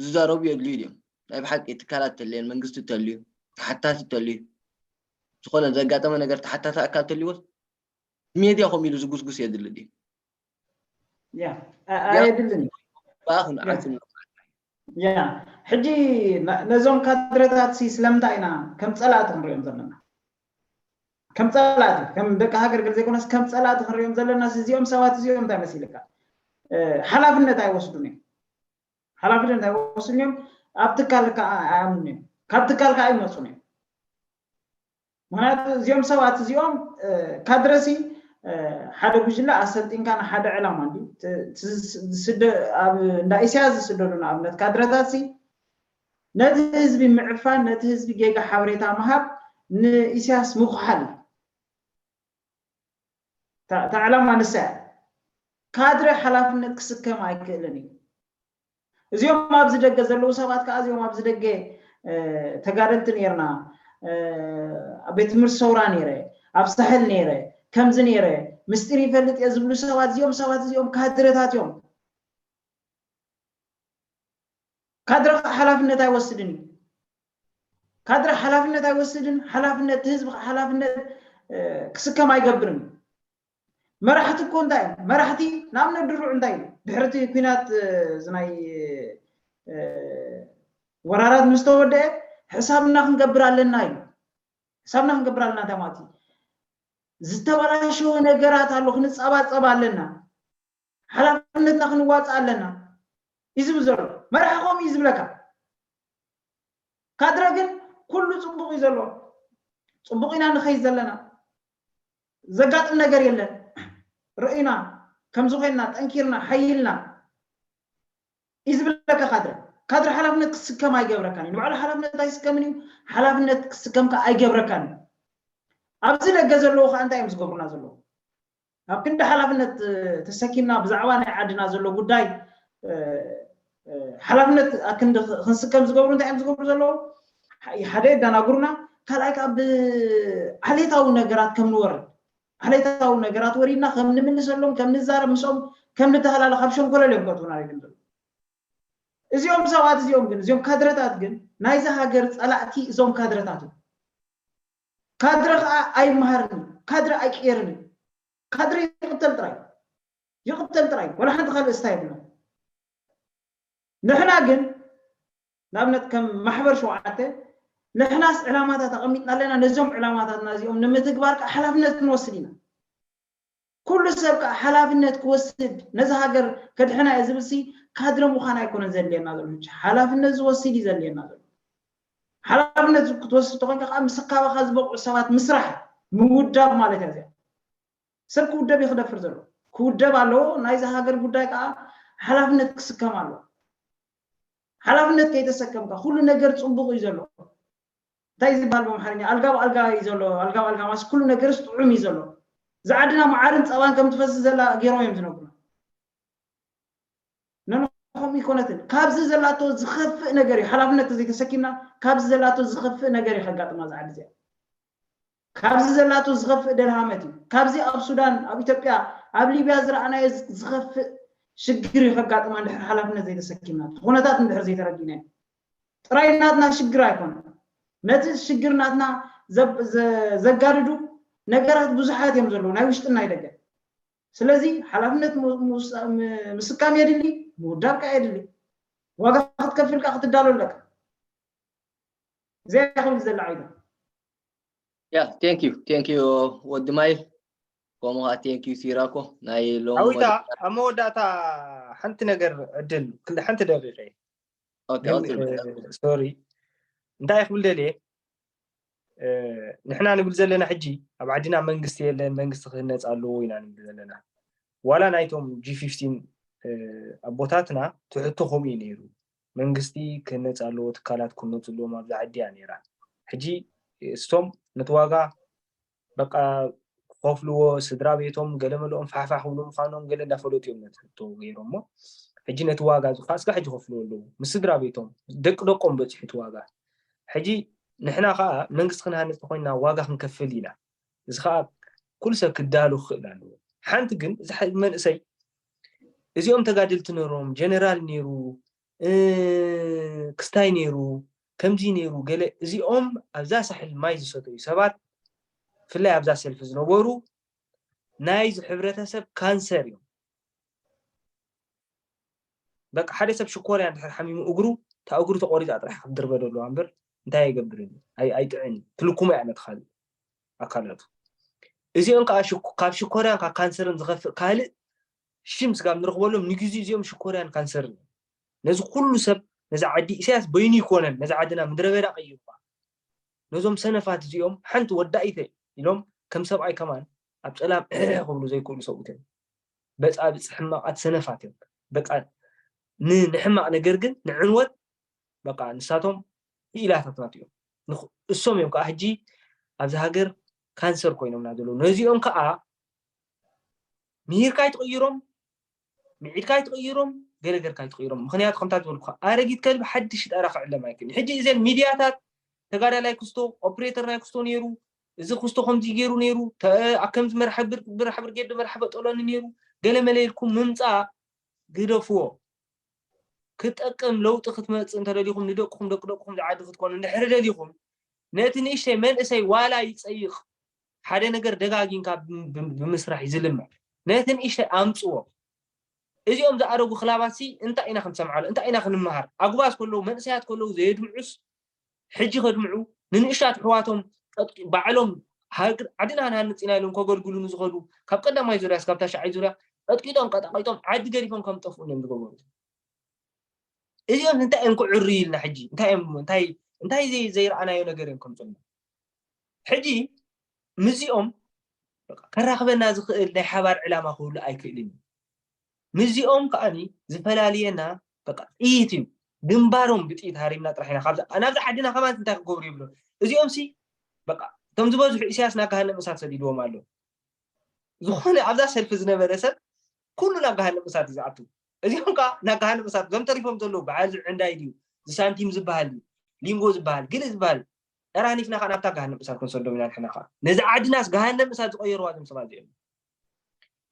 ዝዛረቡ የድልዩ ድዮም ናይ ብሓቂ ትካላት ተልየን መንግስቲ ተልዩ ተሓታቲ ተልዩ ዝኾነ ዘጋጠመ ነገር ተሓታቲ ኣካል ተልዎስ ሜድያ ከምኡ ኢሉ ዝጉስጉስ የድሊ ድዩ ኣየድልን በኣ ክንዓፅም ሕጂ ነዞም ካድረታት ስለምንታይ ኢና ከም ፀላእቲ ክንሪኦም ዘለና ከም ጸላእቲ ከም ደቂ ሃገር ገለ ዘይኮነስ ከም ጸላእቲ ክንሪኦም ዘለና እዚኦም ሰባት እዚኦም እንታይ መሲልካ ሓላፍነት ኣይወስዱን እዮም ሓላፍነት ኣይወስዱን እዮም ኣብ ትካል ከዓ ኣያምኑን እዮም ካብ ትካል ከዓ ይመፁን እዮም ምክንያቱ እዚኦም ሰባት እዚኦም ካድረሲ ሓደ ጉጅለ ኣሰልጢንካ ንሓደ ዕላማ እንዲ ኣብ እንዳ ኢስያ ዝስደዱ ንኣብነት ካድረታትሲ ነቲ ህዝቢ ምዕፋን ነቲ ህዝቢ ጌጋ ሓበሬታ ምሃብ ንኢሳያስ ምኹሓል እዩ። እታ እታ ዕላማ ንሳ እያ። ካድረ ሓላፍነት ክስከም ኣይክእልን እዩ። እዚኦም ኣብዚ ደገ ዘለዉ ሰባት ከዓ እዚኦም ኣብዚ ደገ ተጋደልቲ ነይርና ኣብ ቤት ትምህርቲ ሰውራ ነይረ ኣብ ሳሕል ነይረ ከምዚ ነይረ ምስጢር ይፈልጥ እየ ዝብሉ ሰባት እዚኦም ሰባት እዚኦም ካድረታት እዮም። ካድረ ከዓ ሓላፍነት ኣይወስድን እዩ። ካድረ ሓላፍነት ኣይወስድን፣ ሓላፍነት ህዝቢ ከዓ ሓላፍነት ክስከም ኣይገብርን። መራሕቲ እኮ እንታይ እዮም? መራሕቲ ንኣብነት ድሩዕ እንታይ እዩ? ድሕሪ እቲ ኩናት ናይ ወራራት ምስ ተወደአ ሕሳብና ክንገብር ኣለና እዩ። ሕሳብና ክንገብር ኣለና እንታይ ማለት እዩ? ዝተበላሸወ ነገራት ኣሎ፣ ክንፀባፀብ ኣለና። ሓላፍነትና ክንዋፃእ ኣለና እዩ ዝብል ዘሎ። መራሒ ከምኡ እዩ ዝብለካ። ካድረ ግን ኩሉ ፅቡቕ እዩ ዘሎ፣ ፅቡቕ ኢና ንኸይድ ዘለና፣ ዘጋጥም ነገር የለን፣ ርእዩና ከምዚ ኮይንና ጠንኪርና ሓይልና እዩ ዝብለካ ካድረ። ካድረ ሓላፍነት ክስከም ኣይገብረካን እዩ። ንባዕሉ ሓላፍነት ኣይስከምን እዩ፣ ሓላፍነት ክስከም ከዓ ኣይገብረካን እዩ። ኣብዚ ደገ ዘለዉ ከዓ እንታይ እዮም ዝገብሩና ዘለዉ? ኣብ ክንዲ ሓላፍነት ተሰኪምና ብዛዕባ ናይ ዓድና ዘሎ ጉዳይ ሓላፍነት ኣክንዲ ክንስከም ዝገብሩ እንታይ እዮም ዝገብሩ ዘለዉ ሓደ የደናግሩና ካልኣይ ከዓ ብዓሌታዊ ነገራት ከም ንወርድ ዓሌታዊ ነገራት ወሪድና ከም ንምልሰሎም ከም ንዛረብ ምስኦም ከም ንተሃላለ ካብ ሸንኮለል እዮም ከእትውና ሪድም ዘለዉ እዚኦም ሰባት እዚኦም ግን እዚኦም ካድረታት ግን ናይዚ ሃገር ፀላእቲ እዞም ካድረታት እዮም ካድረ ከኣ ኣይመሃርን እዩ ካድረ ኣይቅየርን እዩ ካድረ ይቅተል ጥራይ ይቅተል ጥራይ ዋላ ሓንቲ ካልእ እስታ የብላን ንሕና ግን ንኣብነት ከም ማሕበር ሸውዓተ ንሕናስ ዕላማታት ኣቐሚጥና ኣለና ነዞም ዕላማታትና እዚኦም ንምትግባር ከኣ ሓላፍነት ክንወስድ ኢና ኩሉ ሰብ ከኣ ሓላፍነት ክወስድ ነዛ ሃገር ከድሕና እየ ዝብል ሲ ካድረ ምዃን ኣይኮነን ዘድልየና ዘሎ ሕጂ ሓላፍነት ዝወስድ እዩ ዘድልየና ዘሎ ሓላፍነት ክትወስድ ተኾይንካ ከኣ ምስ ካባኻ ዝበቕዑ ሰባት ምስራሕ እዩ ምውዳብ ማለት እያ እዚኣ ሰብ ክውደብ እዩ ክደፍር ዘሎ ክውደብ ኣለዎ ናይዛ ሃገር ጉዳይ ከኣ ሓላፍነት ክስከም ኣለዎ ሓላፍነት ከይተሰከምካ ኩሉ ነገር ጽቡቕ እዩ ዘሎ እንታይ እዩ ዝብሃል በምሓርኛ ኣልጋ ብኣልጋ እዩ ዘሎ ኣልጋ ብኣልጋ ማለት ኩሉ ነገርስ ጥዑም እዩ ዘሎ እዛ ዓድና መዓርን ጸባን ከም ትፈስስ ዘላ ገይሮም እዮም ዝነግሩና ኖኖ ከምኡ ይኮነትን ካብዚ ዘላቶ ዝኸፍእ ነገር እዩ ሓላፍነት ተዘይተሰኪምና ካብዚ ዘላቶ ዝኸፍእ ነገር እዩ ከጋጥማ እዛ ዓዲ እዚኣ ካብዚ ዘላቶ ዝኸፍእ ደልሃመት እዩ ካብዚ ኣብ ሱዳን ኣብ ኢትዮጵያ ኣብ ሊብያ ዝረኣናዮ ዝኸፍእ ሽግር እዩ ከጋጥማ እንድሕር ሓላፍነት ዘይተሰኪምና እቲ ኩነታት እንድሕር ዘይተረዲእናዮ ጥራይ ናትና ሽግር ኣይኮነን ነቲ ሽግር ናትና ዘጋድዱ ነገራት ብዙሓት እዮም ዘለዉ ናይ ውሽጥን ናይ ደገን ስለዚ ሓላፍነት ምስካም የድሊ ምውዳብ ከዓ የድሊ ዋጋ ክትከፍል ከዓ ክትዳሎ ኣለካ እዚኣ ክብል ዘለዓይታ ያ ቴንክ ዩ ቴንክ ዩ ወዲ ማይ ከምኡ ከዓ ቴንክ ዩ ሲራኮ ናይ ሎሚ ሓዊታ ኣብ መወዳእታ ሓንቲ ነገር ዕድል ክንዲ ሓንቲ ደቂቀ ኦኬ ኦኬ ሶሪ እንታይ ክብል ደልየ ንሕና ንብል ዘለና ሕጂ ኣብ ዓድና መንግስቲ የለን መንግስቲ ክህነፅ ኣለዎ ኢና ንብል ዘለና ዋላ ናይቶም ጂ ፊፍቲን ኣቦታትና ትሕቶ ከምኡ እዩ ነይሩ መንግስቲ ክህነጽ ኣለዎ ትካላት ክህነጹ ኣለዎም ኣብዛ ዓዲ እያ ኔራ ሕጂ እስቶም ነቲ ዋጋ በቃ ክኸፍልዎ ስድራቤቶም ገለመለኦም ፋሕፋሕ ክብሉ ምዃኖም ገለ እንዳፈለጡ እዮም ነቲ ሕቶ ገይሮሞ ሕጂ ነቲ ዋጋ እዚ ከዓ እስካዕ ሕጂ ክፍልዎ ኣለዎ ምስ ስድራቤቶም ደቂ ደቆም በጺሑ እቲ ዋጋ ሕጂ ንሕና ከዓ መንግስቲ ክንሃንጽ ተኮይንና ዋጋ ክንከፍል ኢና እዚ ከዓ ኩሉ ሰብ ክዳሉ ክኽእል ኣለዎ ሓንቲ ግን እዚ መንእሰይ እዚኦም ተጋደልቲ ነሮም ጀነራል ነሩ ክስታይ ነሩ ከምዚ ነሩ ገለ እዚኦም ኣብዛ ሳሕል ማይ ዝሰተዩ ሰባት ብፍላይ ኣብዛ ሰልፊ ዝነበሩ ናይዚ ሕብረተሰብ ካንሰር እዮም በቃ ሓደ ሰብ ሽኮርያ እንድሕር ሓሚሙ እግሩ እታ እግሩ ተቆሪፃ ጥራሕ ክትድርበደሉ ኣምበር እንታይ ኣይገብርን ኣይጥዕን ትልኩሙ እያ ነቲ ካልእ ኣካላቱ። እዚኦን ከኣ ካብ ሽኮርያን ካብ ካንሰርን ዝኸፍእ ካልእ ሽም ስጋብ ንረኽበሎም ንግዜኡ እዚኦም ሽኮርያን ካንሰርን እዮም። ነዚ ኩሉ ሰብ ነዛ ዓዲ ኢሳያስ በይኑ ኣይኮነን ነዛ ዓድና ምድረበዳ ቀይሩዋ። ነዞም ሰነፋት እዚኦም ሓንቲ ወዳኢተ ኢሎም ከም ሰብኣይ ከማን ኣብ ጸላም እሕሕ ክብሉ ዘይክእሉ ሰብኡት እዮም። በጻብጽ ሕማቃት ሰነፋት እዮም። በቃ ንሕማቅ ነገር ግን ንዕንወት በቃ ንሳቶም ክኢላታት ናቱ እዮም እሶም እዮም ከዓ ሕጂ ኣብዚ ሃገር ካንሰር ኮይኖምና ዘለዉ ነዚኦም ከዓ ምሂርካ ይትቕይሮም ምዒድካ ይትቕይሮም ገለ ገርካ ይትቕይሮም ምክንያቱ ከምታ ዝበልኩካ ኣረጊት ከልቢ ሓድሽ ጠራ ክዕለም ኣይክእልን ሕጂ እዘን ሚድያታት ተጋዳላይ ክስቶ ኦፕሬተር ናይ ክስቶ ነይሩ እዚ ክስቶ ከምዚ ገይሩ ነይሩ ከምዚ መርሓ ብርጌድ መርሓ በጠሎኒ ነይሩ ገለ መለ ኢልኩም ምምፃእ ግደፍዎ ክትጠቅም ለውጢ ክትመጽእ እንተደሊኹም ንደቅኹም ደቂ ደቅኹም ዝዓዲ ክትኮኑ እንድሕሪ ደሊኹም ነቲ ንእሽተይ መንእሰይ ዋላ ይጸይቕ ሓደ ነገር ደጋጊንካ ብምስራሕ እዩ ዝልምዕ ነቲ ንእሽተይ ኣምጽዎ እዚኦም ዝኣረጉ ክላባት ሲ እንታይ ኢና ክንሰምዓሉ እንታይ ኢና ክንምሃር ኣጉባዝ ከለዉ መንእሰያት ከለዉ ዘየድምዑስ ሕጂ ከድምዑ ንንእሽታት ኣሕዋቶም ባዕሎም ዓድና ክንሃንጽ ኢና ኢሎም ከገልግሉ ንዝኸዱ ካብ ቀዳማይ ዙርያ እስካብ ታሽዓይ ዙርያ ቀጥቂጦም ቀጣቂጦም ዓዲ ገዲፎም ከም ዝጠፍኡ እዮም ዝገበሩ እዚኦም እንታይ እዮም ክዕርዩ ኢልና ሕጂ እንታይ እዮም እንታይ እንታይ ዘይረኣናዮ ነገር እዮም ከምፅና ሕጂ ምስዚኦም ከራኽበና ዝኽእል ናይ ሓባር ዕላማ ክህሉ ኣይክእልን እዩ ምስዚኦም ከኣ ዝፈላልየና በቃ ጥይት እዩ ግንባሮም ብጥይት ሃሪምና ጥራሕ ኢና ካብዛ ናብዛ ዓድና ከማን እንታይ ክገብሩ ይብሉ እዚኦምሲ በቃ እቶም ዝበዝሑ ኢሳያስ ናብ ገሃነም እሳት ሰዲድዎም ኣሎ ዝኾነ ኣብዛ ሰልፊ ዝነበረ ሰብ ኩሉ ናብ ገሃነም እሳት እዩ ዝኣቱ እዚኦም ከዓ ናብ ገሃነም እሳት እዞም ተሪፎም ዘለዉ በዓል ዝዕንዳይ ድዩ ዝሳንቲም ዝበሃል ድዩ ሊንጎ ዝበሃል ግል ዝበሃል ዕራኒፍና ከዓ ናብታ ገሃነም እሳት ክንሰዶም ኢና ንሕና ከዓ ነዚ ዓድናስ ገሃነም እሳት ዝቀየርዋ እዞም ሰባት እዚኦም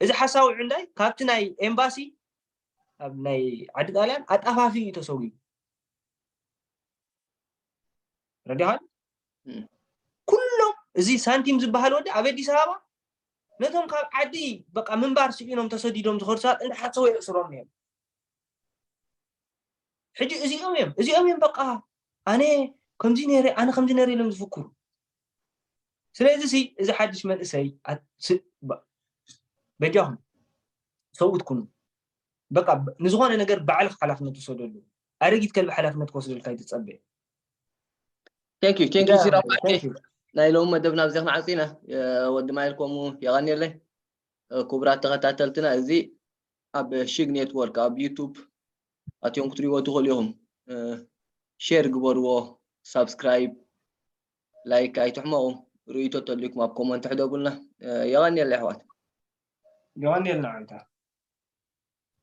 እዚ ሓሳዊ ዕንዳይ ካብቲ ናይ ኤምባሲ ኣብ ናይ ዓዲ ጣልያን ኣጣፋፊ እዩ ተሰዊኡ ረዲኻን ኩሎም እዚ ሳንቲም ዝበሃል ወዲ ኣብ ኣዲስ ኣበባ ነቶም ካብ ዓዲ በቃ ምንባር ስኢኖም ተሰዲዶም ዝኸዱ ሰባት እንዳሓሰቡ የእስሮም እዮም ሕጂ እዚኦም እዮም እዚኦም እዮም በቃ ኣነ ከምዚ ነይረ ኣነ ከምዚ ነይረ ኢሎም ዝፍክሩ ስለዚ ሲ እዚ ሓድሽ መንእሰይ በጃኹም ሰብኡት ኩኑ በቃ ንዝኾነ ነገር ባዕልክ ሓላፍነት ውሰደሉ ኣረጊት ከልቢ ሓላፍነት ክወስደልካ ይትፀበ ቴንክ ዩ ቴንክ ዩ ሲራፋ ናይ ሎሚ መደብና ብዚ ክንዓፂ ኢና ወዲ ማይል ከምኡ የቐኒለይ ክቡራት ተኸታተልትና እዚ ኣብ ሽግ ኔትወርክ ኣብ ዩቱብ ኣትዮም ክትሪዎ ትኽእሉ ኢኹም ሼር ግበርዎ ሳብስክራይብ ላይክ ኣይትሕመቁ ርእይቶ ተልዩኩም ኣብ ኮመንት ሕደጉልና የቀንየልና የሕዋት። የቀንየልና ኣንታ።